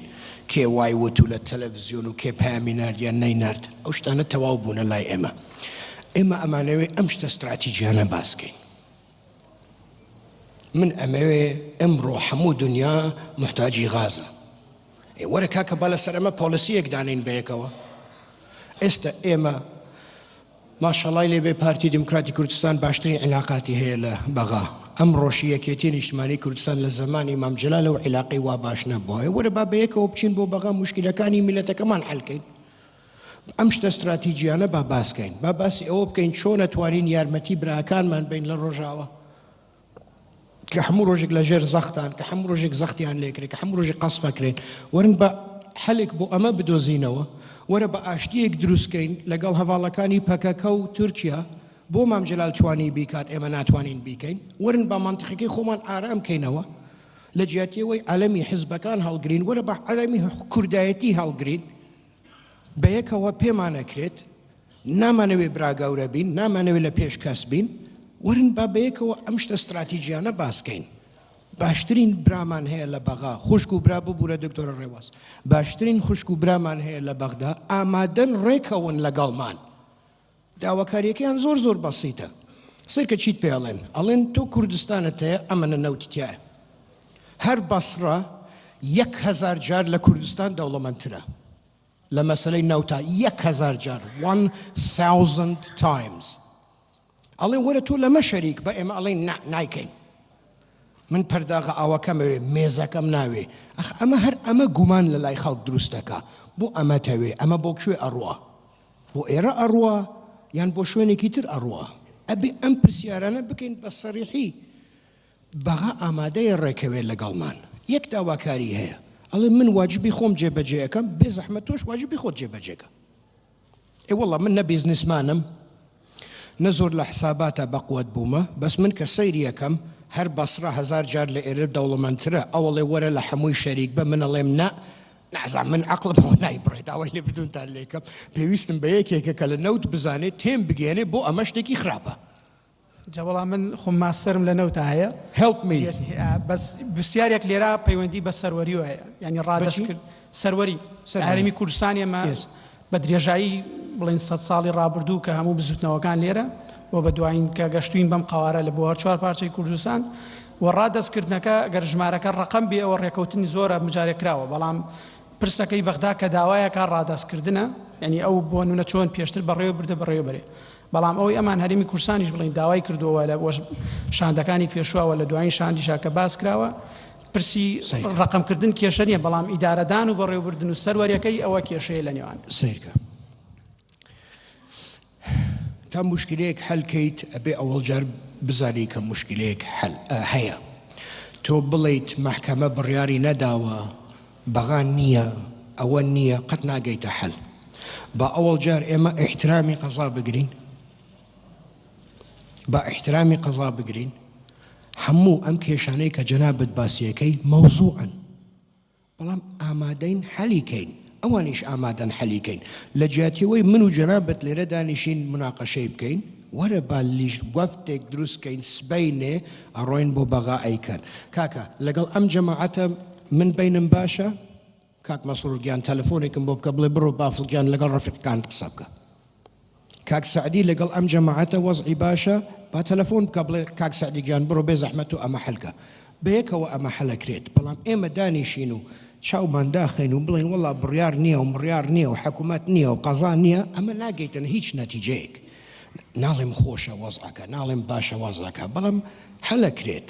کێ وای وت و لە تەلەڤزیۆن و کێ پامی نارد یان نەینارد ئەو شتانە تەواو بوونە لای ئێمە ئێمە ئەمانەوێ ئەم شتە ستراتیجیانە باسکەین. من ئەمەوێ ئمڕۆ حەموو دنیا محتاجی غازە ئێ وەرە کاکە با لەسەر ئەمە پۆلیسیەک دانین بەیەکەوە ئێستا ئێمە ماشەڵای لێبێ پارتی دیموکراتی کوردستان باشترین عیلاقاتی هەیە لە بەغا ئەم ڕۆژی یەکێتی نیشتمانی کوردستان لە زمانی مامجللا لەو عیلاقی وا باش نەبووە وەرە با بەیەکەوە بچین بۆ بەغا مشکلەکانی میلەتەکەمان حلکەین ئەم شتە ستراتیجیانە با باسکەین با باسی ئەوە بکەین چۆن ئەتوانین یارمەتی براکانمان بین لە ڕۆژاوە کە هەموو ڕۆژێک لە ژێر زەختان کە هەموو ڕۆژێک زەختیان لێکرێت کە هەموو ڕۆژی قەسفەکرێن وەرن بە حەلێک بۆ ئەمە بدۆزینەوە وەرە بە ئاشتیەک دروستکەین لەگەڵ هەواڵەکانی پەکەکە و تورکیا بۆ مام جلال توانی بیکات ئێمە ناتوانین بیکەین ورن بە منطقەکەی خۆمان ئارام کەینەوە لە جیاتیەوەی عەلەمی حزبەکان هەڵگرین وەرە بە عەلەمی کوردایەتی هەڵگرین بەیەکەوە پێمان ئەکرێت نامانەوێ براگەورە بین نامانەوێت لە پێش کەس بین ورن با بەیەکەوە ئەم شتە استراتیژیانە باسکەین باشترین برامان هەیە لە بەغا خوشک و برا ببوورە دکتۆرە ڕێواز باشترین خوشک و برامان هەیە لە بەغدا ئامادەن ڕێکەون لەگەڵمان داواکاریەکەیان زۆر زۆر بەسیتە سەیرکە چیت پێ ئەڵێن ئەڵێن تۆ کوردستانت هەیە ئەمەە نەوتی تایە هەر بەسڕە یەک هەزار جار لە کوردستان دەوڵەمەندترە لە مەسلەی نەوتا یەک هەزار جار 1000 تایمز ئەڵێ وەرە تۆ لەمە شەریک بە ئێمە ئەڵێ نایکەین من پەرداغە ئاوەکەمەوێ مێزەکەم ناوێ ئەخ ئەمە هەر ئەمە گومان لە لای خەڵک دروستەکە بۆ ئەمە تەوێ ئەمە بۆ کوێ ئەڕوە بۆ ئێرە ئەڕوا یان بۆ شوێنێکی تر ئەڕوا؟ ئەبێ ئەم پرسیارانە بکەین بە سەڕیحی، بەغا ئامادەیە ڕێکەوێ لەگەڵمان، یەک داواکاری هەیە، ئەڵێ من واجبی خۆم جێبەجێ ئەکەم، بێزەحمەت تۆش واجبی خۆت جێبەجێ کە. ئێ وەڵا من نە بیزنسمانم نە زۆر لە حساباتا بەقوەت بوومە، بەس من کە سەیری ئەکەم هەر بەسڕە هەزار جار لە ئێرە دەوڵەمەندترە، ئەوەڵێ وەرە لە حەمووی شەریک بە، من ئەڵێم نا نازانم من عەقڵم خۆ نایبڕێ داوای لێبردونتان لێکەم پێویستم بە یەکێکە کە لە نەوت بزانێت تێم بگەێنێ بۆ ئەمە شتێکی خراپە جەوەڵا من خۆم ماستەرم لە نەوتا هەیە هەڵپمی بەس پرسیارێک لێرا پەیوەندی بە سەروەری وایە ینی ڕادەست کرد سەروەری هەرمی کوردستان ئێمە بە درێژایی بڵێن سەد ساڵی ڕابردوو کە هەموو بزووتنەوەکان لێرە و بە دوایین کە گەشتووین بەم قەوارە لە بۆ هەر چوار پارچەی کوردستان و ڕادەستکردنەکە گەر ژمارەکە ڕەقەم بێ ئەوە ڕێکەوتنی زۆرە مجارێک کراوە بەڵام پرسەکەی بەغدا کە داوایەکە ڕادەستکردنە یعنی ئەو بۆ نونە چۆن پێشتر بەڕێوە بردە بەڕێوەبەرێ بەڵام ئەوەی ئەمان هەرێمی کورسانیش بڵین داوای کردووە لە شاندەکانی پێشواوە لە دوایین شاندیشا کە باس کراوە پرسی ڕەقەم کردن کێشە نیە بەڵام ئیدارەدان و بەڕێوبردن و سەروەریەکەی ئەوە کێشەیە لە نێوان سیرکە تا مشکلەیەک حەلکەیت ئەبێ ئەوەڵجار بزانی کە مشکلەیەک هەیە تۆ بڵیت محکەمە بڕیاری نەداوە بەغان نییە ئەوە نییە قەت ناگەیتە حەل با ئەوەڵ جار ئێمە احترامی قەزا بگرین با ئیحترامی قەزا بگرین هەموو ئەم کێشانەی کە جەنابت باسیەکەی مەوزوعن بەڵام ئامادەین حەلی کەین ئەوانیش ئامادەن حەلی کەین لە جیاتیەوەی من و جەنابەت لێرە دانیشین مناقەشەی بکەین وەرە با لیش وەفتێک دروستکەین سبینێ ئەڕۆین بۆ بەغا ئەیکەن کاکە لەگەڵ ئەم جەماعەتە من بینم باشە کاک مەسرور گیان تەلەفۆنێکم بۆ بکە بڵێ بڕۆ بافڵ گیان لەگەڵ ڕەفیقەکانت قسە بکە کاک سەعدی لەگەڵ ئەم جەماعەتە وەزعی باشە با تەلەفۆن بکە بڵێ کاک سەعدی گیان بڕۆ بێ زەحمەت و ئەمە حەلکە بەیەکەوە ئەمە حەلەکرێت بەڵام ئێمە دانیشین و چاومان داخین و بڵین وڵا بڕیار نییە و مڕیار نییە و حکوومەت نییە و قەزا نییە ئەمە ناگەیتن هیچ نەتیجەیەک ناڵێم خۆشە وەزعەکە ناڵێم باشە وازەکە بەڵام حەلەکرێت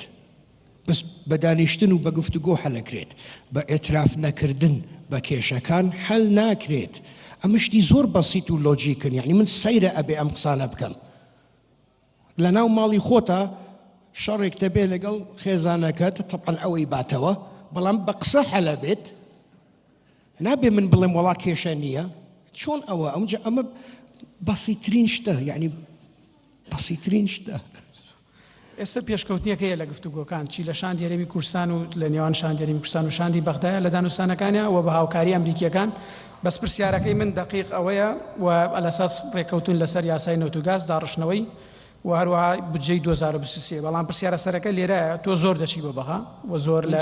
بەس بە دانیشتن و بە گفتوگۆ حەلەکرێت بە ئیتراف نەکردن بە کێشەکان حەل ناکرێت ئەمە شتی زۆر بەسیت و لۆجیکن یعنی من سەیرە ئەبێ ئەم قسانە بکەم لە ناو ماڵی خۆتە شەڕێک تەبێ لەگەڵ خێزانەکەت تەپەن ئەوەی باتەوە بەڵام بە قسە حەلە بێت نابێ من بڵێم وڵا کێشە نییە چۆن ئەوە ئەمجا ئەمە بەسیترین شتە یعنی بەسیترین شتە ئێستا پێشکەوتنێک هەیە لە گفتوگۆکان چی لە شاندی هەرێمی کوردستان و لە نێوان شاندی هەرێمی کوردستان و شاندی بەغدایە لە دانوستانەکانیا و بە هاوکاری ئەمریکییەکان، بەس پرسیارەکەی من دەقیق ئەوەیە و ئەلەساس رێککەوتون لەسەر یاسای نەوت و گاز داڕشتنەوەی و هەروەها بودجەی دوو هەزار و بیست و سێ بەڵام پرسیارە سەرەکە لێرایە تۆ زۆر دەچی بۆ بەغا و زۆر لە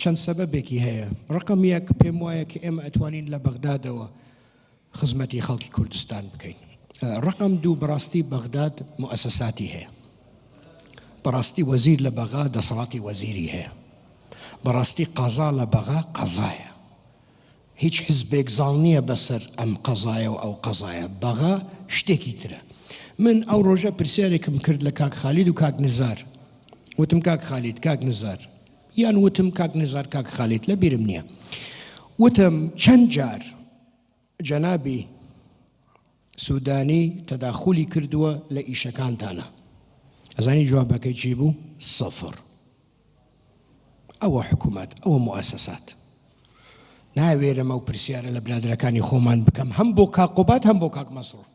چەند سەبەبێکی هەیە ڕقم یەک پێم وایە کە ئێمە ئەتوانین لە بەغدادەوە خزمەتی خەڵکی کوردستان بکەین ڕقم دوو بڕاستی بەغداد مؤسساتی هەیە بەڕاستی وەزیر لە بەغا دەسەڵاتی وەزیری هەیە بەڕاستی قازا لە بەغا قەزایە هیچ حزبێک زاڵ نیە بەسەر ئەم قەزایە و ئەو قەزایە بەغا شتێکی ترە من ئەو ڕۆژە پرسیارێکم کرد لە کاک خالید و کاک نزار وتم کاک خالید کاک نزار یان وتم کاک نزار کاک خالید لە بیرم نیە وتم چەند جار جەنابی سودانی تەداخولی کردووە لە ئیشەکانتانا ئەزانی جوابەکەی چی بوو سەفر ئەوە حکوومەت ئەوە موسەسات ناوێرەمە و پرسیارە لە برادەکانی خۆمان بکەم هەم بۆ کاقۆبات هەم بۆ کاک مەسرور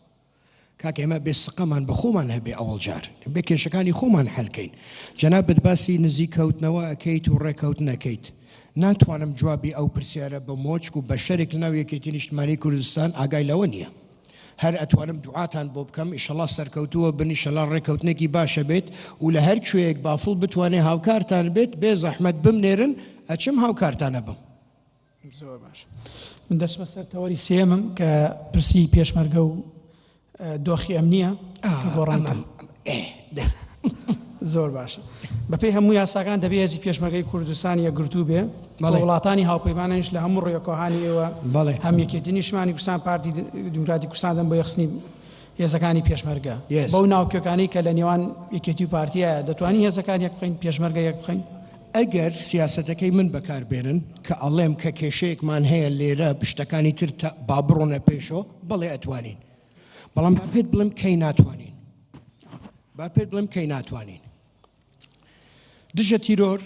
کاک ئێمە بێ سقەمان بە خۆمان هەبێ ئەوەڵ جار بێ کێشەکانی خۆمان حلکەین جەنابەت باسی نزیک کەوتنەوە ئەەکەیت و ڕێککەوت نەکەیت ناتوانم جوابی ئەو پرسیارە بە مۆچک و بەشەرێک لەناو یەکێتی نیشتمانی کوردستان ئاگای لەوە نیە. هەر ئەتوانم دوعاتان بۆ بکەم ئیشەڵا سەرکەوتووە بن ئیشەلا ڕێکەوتنێکی باشە بێت و لە هەر کوێیەک بافڵ بتوانێ هاوکارتان بێت بێ زەحمەت بمنێرن ئەچم هاوکارتان ئەبم. زۆر باش من دەچمە سەر تەوەری سێیەمم کە پرسی پێشمەرگە و دۆخی ئەمنییە گۆڕانکا. زۆر باشە. بەپێی هەموو یاساکان دەبێ هێزی پێشمەرگەی کوردستان یەکگرتوو بێ و وڵاتانی هاوپەیمانانیش لە هەموو ڕوویەک و هانی ئێوە هەم یەکێتی نیشتمانی کوردستان پارتی دیموکراتی کوردستان دەن بۆ یەخسنی هێزەکانی پێشمەرگە بەو ناوکیەکانی کە لە نێوان یەکێتی و پارتیایە دەتوانین هێزەکان یەک بخەین پێشمەرگە یەک بخەین؟ ئەگەر سیاسەتەکەی من بەکار بێنن کە ئەڵێم کە کێشەیەکمان هەیە لێرە پشتەکانی تر با بڕۆنە پێشۆ بەڵێ ئەتوانین بەڵام با پێت بڵێم کەی ناتوانین با پێت بڵێم کەی ناتوانین دژە تیرۆر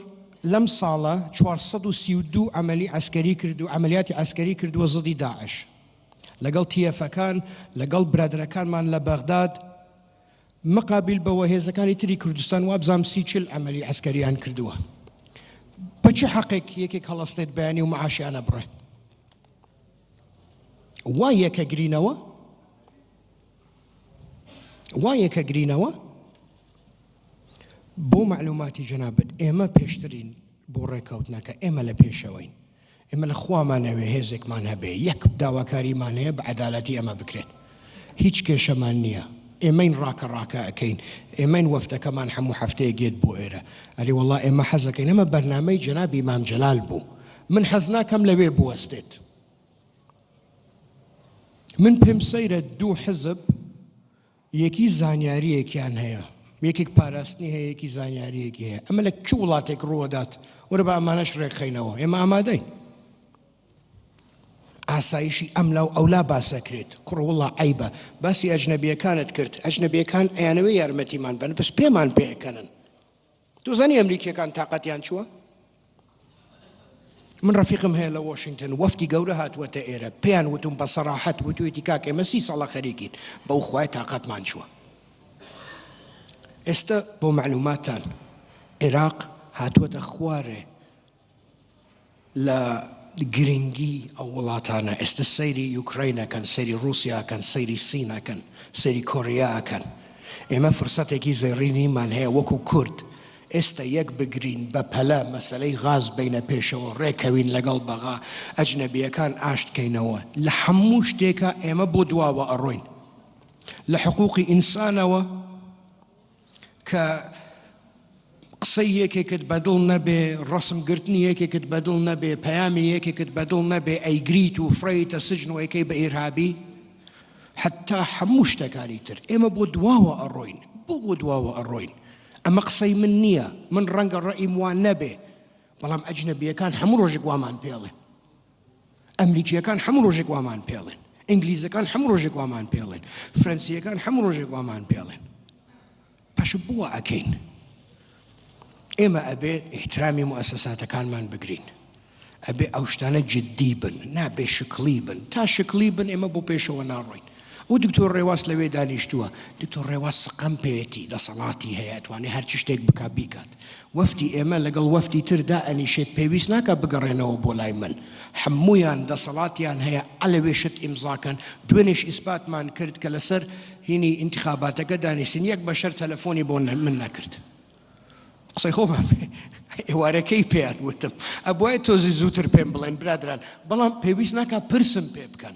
لەم ساڵە 432 ئەمەلی ئەسکەری کرد و ئەمەلیاتی ئەسکەری کردووە زدی داعش لەگەڵ تیەفەکان لەگەڵ برادەکانمان لە بەغداد مقابل بەوە هێزەکانی تری کوردستان وابزام سی چل عەمەلی عەسکەریان کردووە بە چ حەقێک یەکێک هەڵەستێت بەیانی و معاشیان ئەبڕێ وا یەکە گرینەوە وا یەکە گرینەوە بۆ معلوماتی جەنابەت ئێمە پێشترین بۆ ڕێککەوتنەکە ئێمە لە پێشەوەین ئێمە لە خوامان ئەوێ هێزێکمان هەبێ یەک داواکاریمان هەیە بە عەدالەتی ئەمە بکرێت هیچ کێشەمان نییە ئێمەین ڕاکە ڕاکە ئەەکەین ئێمەین وەفتەکەمان هەموو هەفتەیە گێت بۆ ئێرە ئەلی وڵا ئێمە حەزەکەین ئەمە بەرنمەی جەنابی مام جەلال بوو من حەز ناکەم لەوێ بوەستێت من پێم سەیرە دوو حزب یەکی زانیاریەکیان هەیە یەکێک پاراستنی هەیە یەکی زانیاریەکی هەیە ئەمە لە چ وڵاتێک ڕووەدات وەرە بە ئەمانەش ڕێکخینەوە ئێمە ئامادەین ئاسایشی ئەم لاو ئەولا باسەکرێت کوڕوڵە عیبە باسی ئەجنەبیەکانت کرد ئەجنەبیەکان ئەیانەوەی یارمەتیمان بن بەس پێمان پێکەنن دوزانی ئەمریکیەکان تااقەتیان چووە من ڕفیقم هەیە لە واشنگتن وەفتی گەورە هاتووەتە ئێرە پێیان وتم بە سەراحەت وتوێتی کاک ئێمە سی ساڵە خەریکین بەو خخوای تااقەتمان چووە ئێستا بۆ معلوماتان عێراق هاتووەتە خوارێ لە گرنگی ئەو وڵاتانە ئێستە سەیری یوکرەین ئەکەن سەیری ڕوسیا ئەکەن سەیری سین ئەکەن سەیری کۆریا ئەکەن ئێمە فرسەتێکی زێڕینیمان هەیە وەکو کورد ئێستە یەک بگرین بە پەلە مەسلەی غاز بینە پێشەوە ڕێکەوین لەگەڵ بەغا ئەجنەبیەکان ئاشتکەینەوە لە هەموو شتێکە ئێمە بۆ دواوە ئەڕۆین لە حقوقی ئینسانەوە کە قسەی یەکێکت بەدڵ نەبێ، ڕەسم گرتنی یەکێکت بەدڵ نەبێ، پەیامی یەکێکت بەدڵ نەبێ ئەیگریت و فڕێیتە سجن و ئەیکەی بە ئیرهابی، حەتا هەموو شتەکانی تر. ئێمە بۆ دواوە ئەڕۆین، بۆ بۆ دواوە ئەڕۆین؟ ئەمە قسەی من نییە، من ڕەنگە ڕەئیم وا نەبێ، بەڵام ئەجنەبییەکان هەموو ڕۆژێک وامان پێڵێ. ئەمریکییەکان هەموو ڕۆژێک وامان پێڵێن ئینگلیزەکان هەموو ڕۆژێک وامان پێڵێن فرەنسییەکان هەموو ڕۆژێک وامان پێڵێن پاش بووە ئەکەین ئێمە ئەبێ احترامی موسەساتەکانمان بگرین ئەبێ ئەو شتانە جددی بن نابێ شکڵی بن تا شکڵی بن ئێمە بۆ پێشەوە ناڕۆین ئەو دکتۆر ڕێواس لەوێ دانیشتووە دکتۆر ڕێواس سقەم پێیەتی دەسەڵاتی هەیە ئەتوانێ هەرچی شتێک بکا بیکات وەفدی ئێمە لەگەڵ وەفدی تر دائەنیشێت پێویست ناکا بگەڕێنەوە بۆ لای من حەموویان دەسەڵاتیان هەیە عەلەوێ شت ئیمزا کەن دوێنێش ئیسپاتمان کرد کە لەسەر هینی ئینتخاباتەکە دانیشتن یەک بەشەر تەلەفۆنی بۆ من نەکرد قسەی خۆمان ئێوارەکەی پێیان وتم ئەبوای تۆزی زووتر پێم بڵێن برادران بەڵام پێویست ناکا پرسم پێ بکەن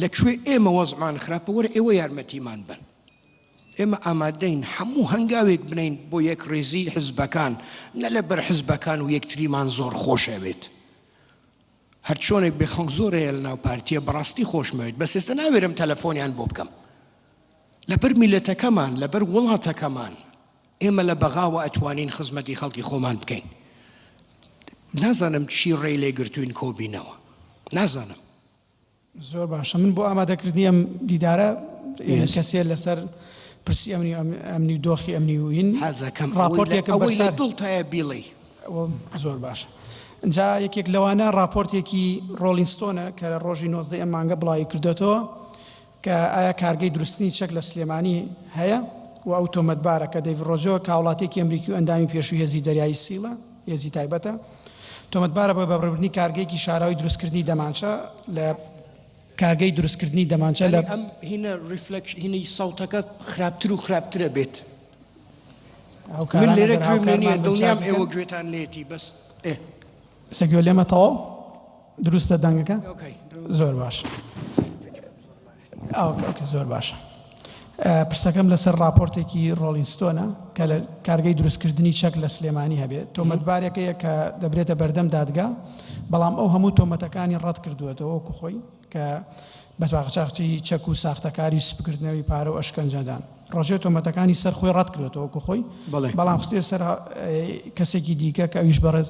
لە کوێ ئێمە وەزعمان خراپە وەرە ئێوە یارمەتیمان بەن ئێمە ئامادەین هەموو هەنگاوێک بنین بۆ یەکڕیزی حزبەکان نە لە بەر حزبەکان و یەکتریمان زۆر خۆشەوێت هەر چۆنێک بێ خەڵک زۆر هەیە لە ناو پارتیە بەڕاستی خۆشمەوێت بەس ئێستا ناوێرم تەلەفۆنیان بۆ بکەم لەبەر میلەتەکەمان لەبەر وڵاتەکەمان ئێمە لە بەغاوە ئەتوانین خزمەتی خەڵکی خۆمان بکەین نازانم چی ڕێی لێگرتوین کۆبینەوە نازانم زۆر باشە من بۆ ئامادەکردنی ئەم دیدارە کەسێ لەسەر پرسی ئەمنی ئەمنی دۆخی ئەمنی وین حەزەکەم ڕاپۆرتێکم بۆی لە دڵتایە بیڵی زۆر باشە جا یەکێک لەوانە راپۆرتێکی ڕۆلینستۆنە کە ڕۆژی نۆزدە ئەم مانگە بڵاوی کردێتەوە کە ئایا کارگەی دروستکردنی چەک لە سلێمانی هەیە و ئەو تۆمەتبارە کە دەیڤ ڕۆزۆ کە هاوڵاتییەکی ئەمریکی و ئەندامی پێشووی هێزی دەریایی سیڵە، هێزی تایبەتە، تۆمەتبارە بە بەڕێوەبردنی کارگەیەکی شاراوەی دروستکردنی دەمانچە لە. کارگەی دروستکردنی دەمانچە لە. هاوکارانە گەر هاوکارمان بن چاکی کەن. سە گوێ لێمە تەواو دروستە دەنگەکە زۆر باش زۆر باشە پرسەکەم لەسەر راپۆرتێکی ڕۆڵینستۆنە کە لە کارگەی دروستکردنی چەک لە سلێمانی هەبێت تۆمەتبارێکەیە کە دەبرێتە بەردەم دادگا بەڵام ئەو هەموو تۆمەتەکانی ڕەت کردووەتەوە وەکو خۆی کە بە ساقچاقچی چەک و ساختەکاری و سپکردنەوەی پارە و ئەشکەنجەدان. ڕۆژێ تۆمەتەکانی سەر خۆی ڕەتکردۆتەوە وەکو خۆی، بەڵام خستویە سەر کەسێکی دیکە کە ئەویش بەڕێز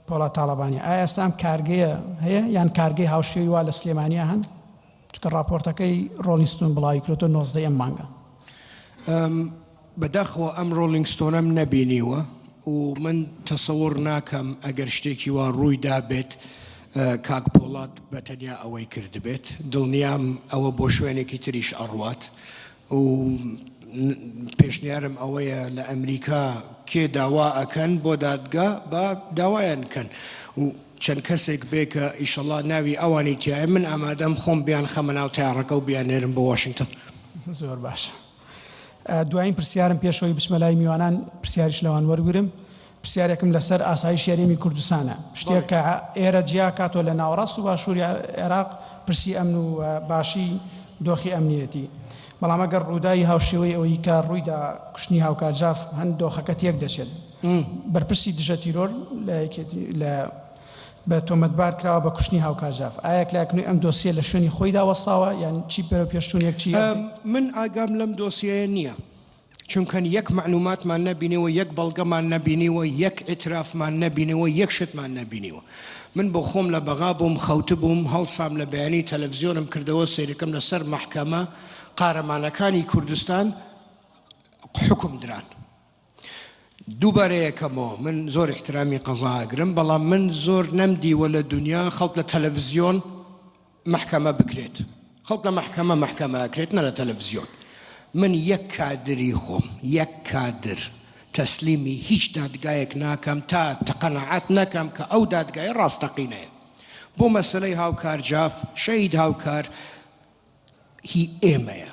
پۆڵاد تاڵەبانیە. ئایا ئێستا ئەم کارگەیە هەیە یان کارگەی هاوشێوەی وا لە سلێمانیا هەن؟ چونکە ڕاپۆرتەکەی ڕۆڵینگ ستون بڵاویکردۆتەوە نۆزدە ی ئەم مانگە. بە داخەوە ئەم ڕۆڵینگ ستۆنەم نەبینیوە و من تەسەوڕ ناکەم ئەگەر شتێکی وا ڕووی دابێت کاک پۆڵات بە تەنیا ئەوەی کردبێت دڵنیام ئەوە بۆ شوێنێکی تریش ئەڕوات و پێشنیارم ئەوەیە لە ئەمریکا کێ داوا ئەکەن بۆ دادگا بە داوایان کەن و چەند کەسێک بێ کە ئیشەڵا ناوی ئەوانی تایە من ئامادەم خۆم بیان خەمە ناو تاڕەکە و بیانێرم بۆ واشنگتن زۆر باشە. دوایین پرسیارم پێش ئەوەی بچمە لای میوانان پرسیاریش لەوان وەرگرم پرسیارێکم لەسەر ئاسایشی هەرێمی کوردستانە شتێک کە ئێرە جیا کاتەوە لە ناوەڕاست و باشووری عێراق پرسی ئەمن و باشی دۆخی ئەمنیەتی بەڵام ئەگەر ڕووداوی هاوشێوەی ئەوەی کە ڕوویدا کوشتنی هاوکار جاف هەن دۆخەکە تێک دەچێت بەرپرسی دژە تیرۆر لە یەکێتی لە بە تۆمەتبار کراوە بە کوشتنی هاوکار جاف، ئایا کلاکنوی ئەم دۆسیە لە شوێنی خۆیدا وەستاوە یان چی بەرەوپێشچونێک چی ئەبێ؟ من ئاگام لەم دۆسیەیە نیە چونکەن یەک مەعلوماتمان نەبینیوە یەک بەڵگەمان نەبینیوە یەک ئیترافمان نەبینیوە یەک شتمان نەبینیوە من بۆخۆم لە بەغا بووم خەوتبووم هەڵسام لە بەیانی تەلەفزیۆنم کردەوە سەیرکەم لە سەر مەحکەمە قارەمانەکانی کوردستان حوکم دران دووبارەیەکەمەوە من زۆر احترامی قەزا ئەگرم بەڵام من زۆر نەم دیوە لە دونیا خەڵک لە تەلەفزیۆن مەحکەمە بکرێت خەڵک لە مەحکەمە مەحکەمە ئەکرێت نە لە تەلەفزیۆن من یەک کادری خۆم یەک کادر تەسلیمی هیچ دادگایەک ناکەم تا تەقەنەعات نەکەم کە ئەو دادگای ڕاستەقینەیە بۆ مەسلەی هاوکار جاف شەید هاوکار هی ئێمەیە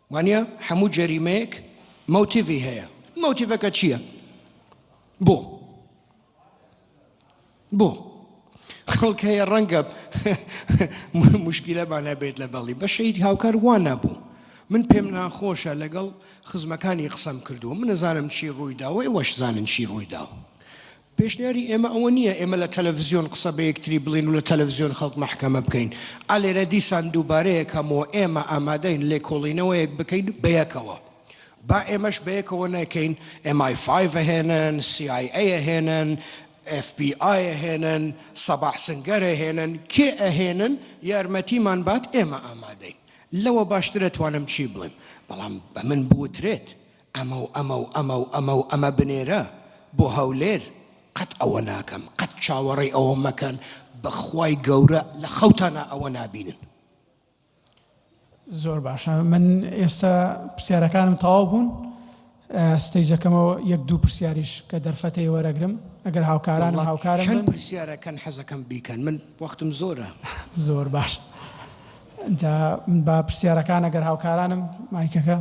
وانیە هەموو جەریمەیەک مەوتیڤی هەیە مەوتیڤەکە چییە بۆ بۆ خەڵک هەیە ڕەنگە مشکیلەمان هەبێت لە بەڵی بەشەید هاوکار وان نەبوو من پێم ناخۆشە لەگەڵ خزمەکانی قسەم کردووە من نەزانم چی ڕوویداوە ئێوەش زانن چی ڕوویداوە پێشنیاری ئێمە ئەوە نییە ئێمە لە تەلەفزیۆن قسە بە یەکتری بڵێین و لە تەلەفزیۆن خەڵک مەحکەمە بکەین. ئا لێرە دیسان دووبارە یەکەمەوە ئێمە ئامادەین لێکۆڵینەوەیەک بکەین بەیەکەوە. با ئێمەش بەیەکەوە نەکەین، ئێم ئای فایڤ هێنن، سی ئای ئەی هێنن، ئێف بی ئای هێنن، سەباح سنگەر هێنن، کێ ئەهێنن یارمەتیمان بات ئێمە ئامادەین. لەوە باشتر ئەتوانم چی بڵێم؟ بەڵام بە من بوترێت ئەمە و ئەمە و ئەمە و ئەمە و ئەمە بنێرە بۆ هەولێر، قەت ئەوە ناکەم، قەت چاوەڕێی ئەوە مەکەن، بەخوای گەورە لە خەوتانا ئەوە نابینن. زۆر باشە من ئێستا پرسیارەکانم تەواو بوون ستەیجەکەمەوە یەک دوو پرسیاریش کە دەرفەتەی وەرەگرم ئەگەر هاوکارانم وەڵا هاوکارم چەند بن پرسیارەکەن حەزەکەم بیکەن من وەختم زۆرە. زۆر باشە جا با پرسیارەکان ئەگەر هاوکارانم مایکەکە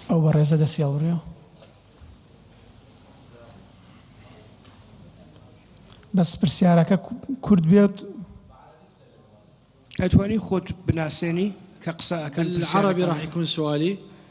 ئەو بەڕێزە دەستی هەڵبڕیوە. بەس پرسیارەکە کورت بێت. ئەتوانی خۆت بناسێنی کە قسە ئەکەن پرسیارەکان. بالعربی راح يكون سوالي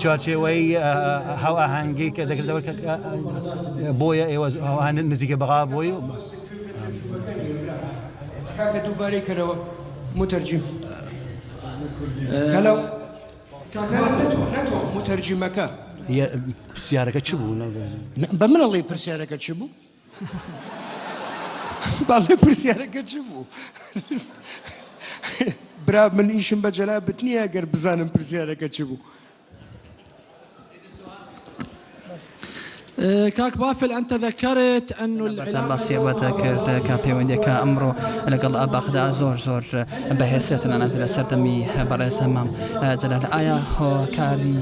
چوارچێوەی هاوئاهەنگی کە دەکردەوە کە بۆیە ئێوە ئەوان نزیکە بەغا بۆی کاکە دووبارەی کەرەوە مترجم کەلەو مترجمەکە پرسیارەکە چ بوو بە منەڵی پرسیارەکە چ بوو؟ بەڵێ پرسیارەکە چ بوو؟ برا من ئیشم بە جەنابت نییە گەر بزانم پرسیارەکە چ بوو؟ کاک بافل ئەنتە ذەکەرت ئەن بەردەم باسی ئەوە دەکرد کە پەیوەندیەکە ئەمڕۆ لەگەڵ بەغدا زۆر زۆر بەهێزترە تەنانەت لە سەردەمی بەڕێز هەمام جەلال ئایا هۆکاری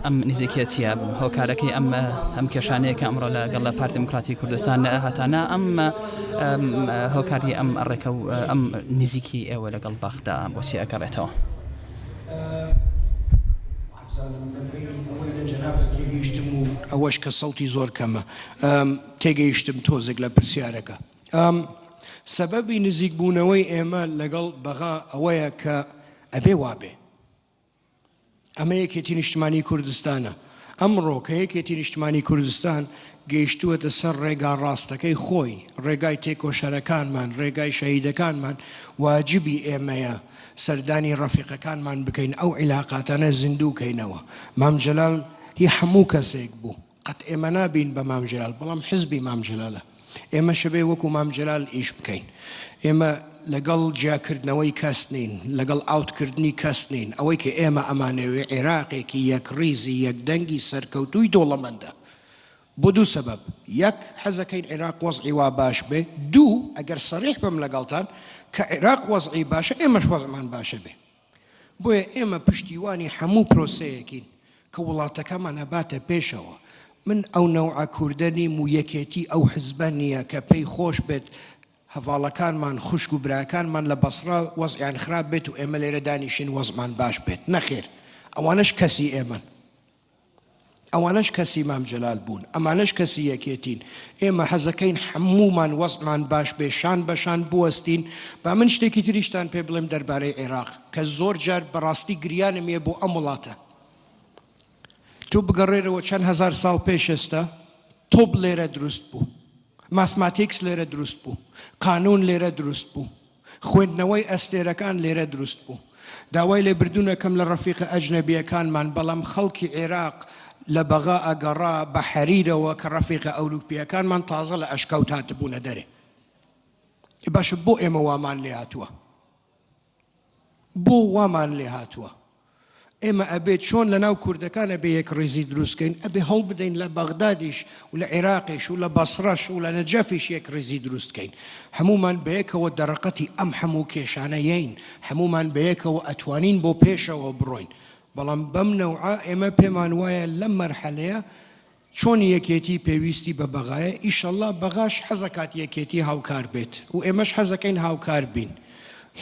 ئەم نزیکەتیە هۆکارەکەی ئەم ئەم کێشانەیە کە ئەمڕۆ لە گەڵ لە پارت دموکراتی کوردستان لە هاتانە ئەم هۆکاری ئەم ڕێکە و ئەم نزیکی ئێوە لەگەڵ بەخدا بۆچی ئەگەڕێتەوە ئەوەش کە سەڵتی زۆر کەمە تێگەیشتم تۆزێک لە پرسیارەکە ئەم سەبەبی نزیک بوونەوەی ئێمە لەگەڵ بەغا ئەوەیە کە ئەبێ وابێ ئەمە یەکێتی نیشتمانی کوردستانە ئەمڕۆ کە یەکێتی نیشتمانی کوردستان گەیشتووەتە سەر ڕێگا ڕاستەکەی خۆی ڕێگای تێکۆشەرەکانمان ڕێگای شەهیدەکانمان واجبی ئێمەیە سەردانی ڕەفیقەکانمان بکەین ئەو عیلااقاتانە زیندوو کەینەوە مامجلال هی هەموو کەسێک بوو قەت ئێمە نابین بە مام جەلال بەڵام حزبی مام جەلالە ئێمەش بێ وەکو مام جەلال ئیش بکەین ئێمە لەگەڵ جیاکردنەوەی کەس نین لەگەڵ ئاوتکردنی کەس نین ئەوەی کە ئێمە ئەمانەوێ عێراقێکی یەک ڕیزی یەک دەنگی سەرکەوتووی دۆڵەمەندە بۆ دوو سەبەب یەک حەزەکەین عێراق وەزعی وا باش بێ دوو ئەگەر سەریح بم لەگەڵتان کە عێراق وەزعی باشە ئێمەش وەزمان باشە بێ بۆیە ئێمە پشتیوانی هەموو پرۆسەیەکین کە وڵاتەکەمان ئەباتە پێشەوە، من ئەو نەوعە کوردە نیم و یەکێتی ئەو حزبە نییە کە پێی خۆش بێت هەڤاڵەکانمان، خوشک و براکانمان لە بەسڕە وەزعیان خراپ بێت و ئێمە لێرە دانیشین وەزعمان باش بێت، نەخێر ئەوانەش کەسی ئێمەن. ئەوانەش کەسی مام جەلال بوون ئەمانەش کەسی یەکێتین ئێمە حەزەکەین حەموومان وەزعمان باش بێ شان بە شان بوەستین با من شتێکی تریشتان پێ بڵێم دەربارەی عێراق کە زۆر جار بەڕاستی گریانم یە بۆ ئەم وڵاتە تۆ بگەڕێرەوە چەند هەزار ساڵ پێش ئێستا تۆپ لێرە دروست بوو ماسماتیکس لێرە دروست بوو قانون لێرە دروست بوو خوێندنەوەی ئەستێرەکان لێرە دروست بوو. داوای لێبردوونەکەم لە ڕەفیقە ئەجنەبییەکانمان، بەڵام خەڵکی عێراق لە بەغا ئەگەڕا بە حەریرەوە کە ڕەفیقە ئەوروپییەکانمان تازە لە ئەشکەوت هاتبوونە دەرێ. ئێ باشە بۆ ئێمە وامان لێهاتووە؟ بۆ وامان لێهاتووە؟ ئێمە ئەبێ چۆن لە ناو کوردەکان ئەبێ یەکڕیزی دروست کەین، ئەبێ هەوڵ بدەین لە بەغدادیش و لە عیراقیش و لە بەسڕەش و لە نەجەفیش یەکڕیزی دروست کەین. هەموومان بەیەکەوە دەرەقەتی ئەم هەموو کێشانە یەین، هەموومان بەیەکەوە ئەتوانین بۆ پێشەوە بڕۆین، بەڵام بەم نەوعە ئێمە پێمان وایە لەم مەرحەلەیە چۆن یەکێتی پێویستی بە بەغایە ئیشەڵا بەغاش حەزەکات یەکێتی هاوکار بێت و ئێمەش حەزەکەین هاوکار بین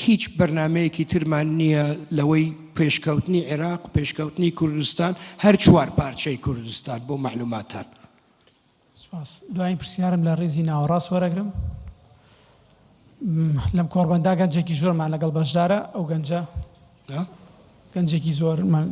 هیچ بەرنامەیەکی ترمان نییە لەوەی پێشکەوتنی عێراق پێشکەوتنی کوردستان هەر چوار پارچەی کوردستان بۆ مەعلوماتان. سپاس. دوایین پرسیارم لە ڕیزی ناوەڕاست وەرەگرم. لەم کۆڕبەندا گەنجێکی زۆرمان لەگەڵ بەشدارە ئەو گەنجە گەنجێکی زۆرمان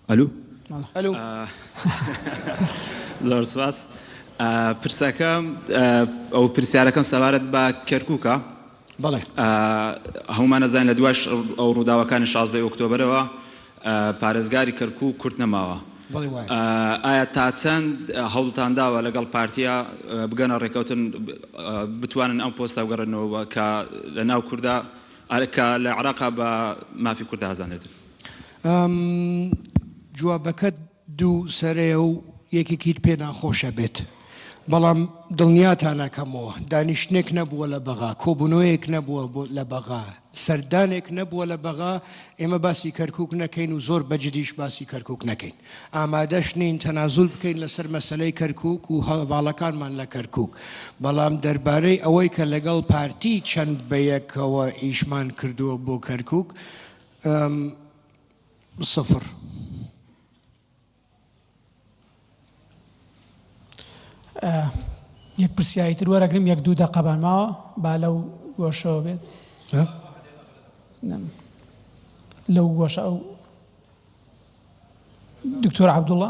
ئەلو ئەلو زۆر سپاس پرسەکەم ئەو پرسیارەکەم سەبارەت بە کەرکووکە بەڵێ هەمومان نەزانین لە دواش ئەو ڕووداوەکانی 16 ئۆکتۆبرەوە پارێزگاری کەرکوو کورت نەماوە ئایا تا چەند هەوڵتان داوە لەگەڵ پارتیا بگەنە ڕێکەوتن بتوانن ئەم پۆستە بگەڕێنەوە کە لە ناو کووردا کە لە عراقا بە مافی کووردا ئازانێتن ئەم جوابەکەت دوو سەرەیە و یەکێکیت پێ ناخۆش ئەبێت. بەڵام دڵنیاتان ئەکەمەوە دانیشتنێک نەبووە لە بەغا، کۆبوونەوەیەک نەبووە لە بەغا، سەردانێک نەبووە لە بەغا ئێمە باسی کەرکووک نەکەین و زۆر بە جدیش باسی کەرکووک نەکەین. ئامادەش نین تەنازول بکەین لەسەر مەسەلەی کەرکووک و هەڤاڵەکانمان لە کەرکووک. بەڵام دەربارەی ئەوەی کە لەگەڵ پارتی چەند بە یەکەوە ئیشمان کردووە بۆ کەرکووک، ئەم سفر. یەک پرسیاری تر وەرەگرم یەک دوو دەقەبان ماوە با لەو گۆشەوە بێت لەو گۆشە ئەو دکتۆر عبدوڵە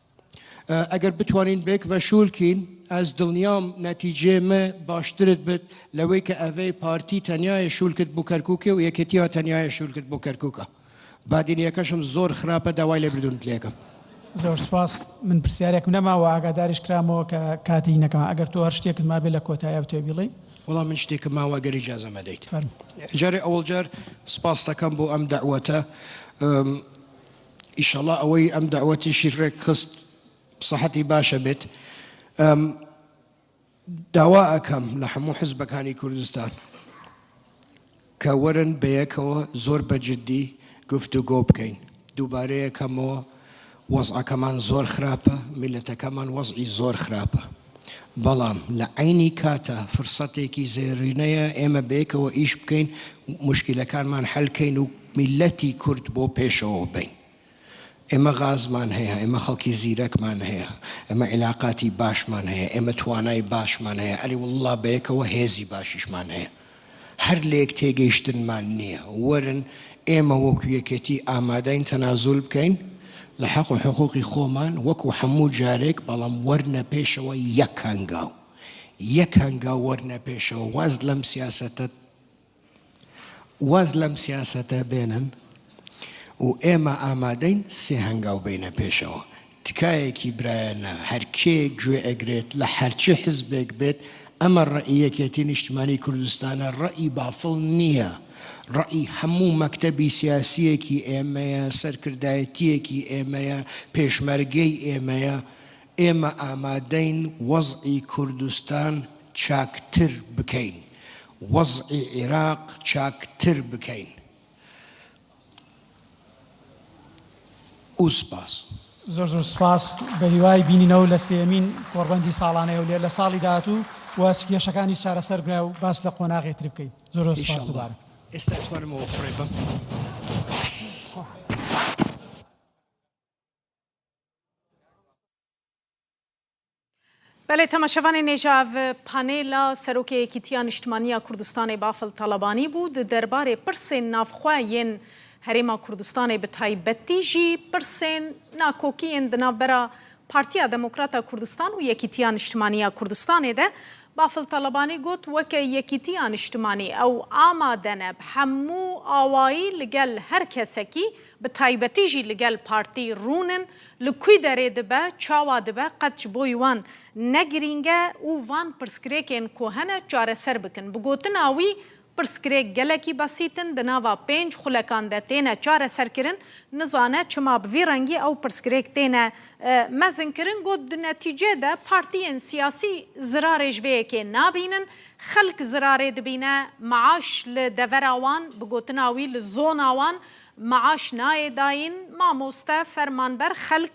ئەگەر بتوانین بێک ڤە شولکین ئەز دڵنیام نەتیجێ مە باشترت بت لەوەی کە ئەڤەی پارتی تەنیایە شولکت بو کەرکوکێ و یەکێتیا تەنیایە شولکت بو کەرکوکە بادینیەکەشم زۆر خراپە داوای لێبردونت لێکەم. زۆر سوپاس من پرسیارێکم نەما وە ئاگاداریش کرامەوە کە کاتی نەکەمە ئەگەر تۆ هەر شتێکت مابێ لە کۆتاییا بتوێ بیڵی. وەڵا من شتێکم ماوە ئەگەر ئیجازەم ئەدەیت. فەرموو. جارێ ئەوەڵ جار سوپاستەکەم بۆ ئەم دەعوەتە. ئیشەڵا ئەوەی ئەم دەعوەتیشی ڕێک خست سەحەتی باشە بێت داوا ئەکەم لە هەموو حزبەکانی کوردستان کە وەرن بەیەکەوە زۆر بەجددی گفت و گۆ بکەین دووبارەیەکەمەوە وەزعەکەمان زۆر خراپە میلەتەکەمان وەزعی زۆر خراپە بەڵام لە عەینی کاتا فرسەتێکی زێڕینەیە ئێمە بەیەکەوە ئیش بکەین موشکیلەکانمان حەل کەین و میللەتی کورد بۆ پێشەوە بەین. ئێمە غازمان هەیە، ئێمە خەڵکی زیرەکمان هەیە، ئێمە عیلاقاتی باشمان هەیە، ئێمە توانای باشمان هەیە، ئەری واللە بەیەکەوە هێزی باشیشمان هەیە. هەر لێک تێگەیشتنمان نییە، وەرن ئێمە وەکو یەکێتی ئامادەین تەنازول بکەین لە حەق و حقوقی خۆمان وەکو هەموو جارێک، بەڵام وەرنە پێشەوە یەک هەنگاو یەک هەنگاو وەرنە پێشەوە واز لەم سیاسەتە واز لەم سیاسەتە بێنن و ئێمە ئامادەین سێ هەنگاو بێینە پێشەوە تکایەکی برایانە هەرکێ گوێ ئەگرێت لە هەرچی حزبێک بێت ئەمە ڕەئی یەکێتی نیشتمانی کوردستانە ڕەئی بافڵ نییە ڕەئی هەموو مەکتەبی سیاسیەکی ئێمەیە سەرکردایەتیەکی ئێمەیە پێشمەرگەی ئێمەیە ئێمە ئامادەین وەزعی کوردستان چاکتر بکەین وەزعی عیراق چاکتر بکەین. و سپاس. زۆر زۆر سپاس، بەهیوای بینینەوە لە سێیەمین کۆڕبەندی ساڵانەی هەولێر لە ساڵی داهاتوو و چ کێشەکانیش چارەسەر بکرا و باس لە قۆناغی تری بکەین. زۆر زۆر سپاس دووبارە. ئێستا ئەتوانمەوە فڕێ بەم. بەلێ تەماشەڤانێ نێژاڤ پانێلا سەرۆکێ یەکیتیا نیشتمانیا کوردستانێ بافڵ تاڵەبانی بوو د دەربارێ پرسێن ناڤخوا یێن هەرێما کوردستانێ بە تایبەتی ژی پرسێن ناکۆکیێن د ناڤبەرا پارتیا دمۆکراتا کوردستان و یەکیتیا نیشتمانیا کوردستانێ دە بافڵ تاڵەبانی گوت وەکە یەکیتیا نیشتمانی ئەو ئامادەنە ب هەموو ئاوایی لگەل هەر کەسەکی بە تایبەتی ژی لگەل پارتی روونن ل کوی دەێ دبە چاوا دبە قەت چ بۆی وان نە گرینگە ئو وان پرسکرێکێن کۆهەنە چارەسەر بکن بگۆتن ئاوی پرسکرێک گەلەکی بەسیتن دە ناوا پێنج خولەکان دە تێنە چارەسەر کرن نزانە چما بڤی رەنگی ئەو پرسکرێک تێنە مەزن کرن گۆت دو نەتیجە دە پارتیێن سیاسی زرارێژ ڤێەکێ نابینن خەلک زرارێ دبینە معاش ل دەڤەرا وان بگۆتن ئاوی ل زۆنا وان معاش نایێ داین مامۆستا فەرمانبەر خەلک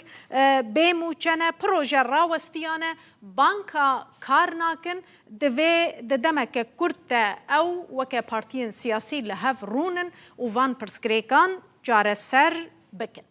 بێ موچەنە پرۆژە راوەستیانە بانکا کار ناکن دڤێ ددەمە کە کورد تە ئەو وەکە پارتیێن سیاسی لە هەڤ رونن و ڤان پرسگرێکان جارەسەر بکن.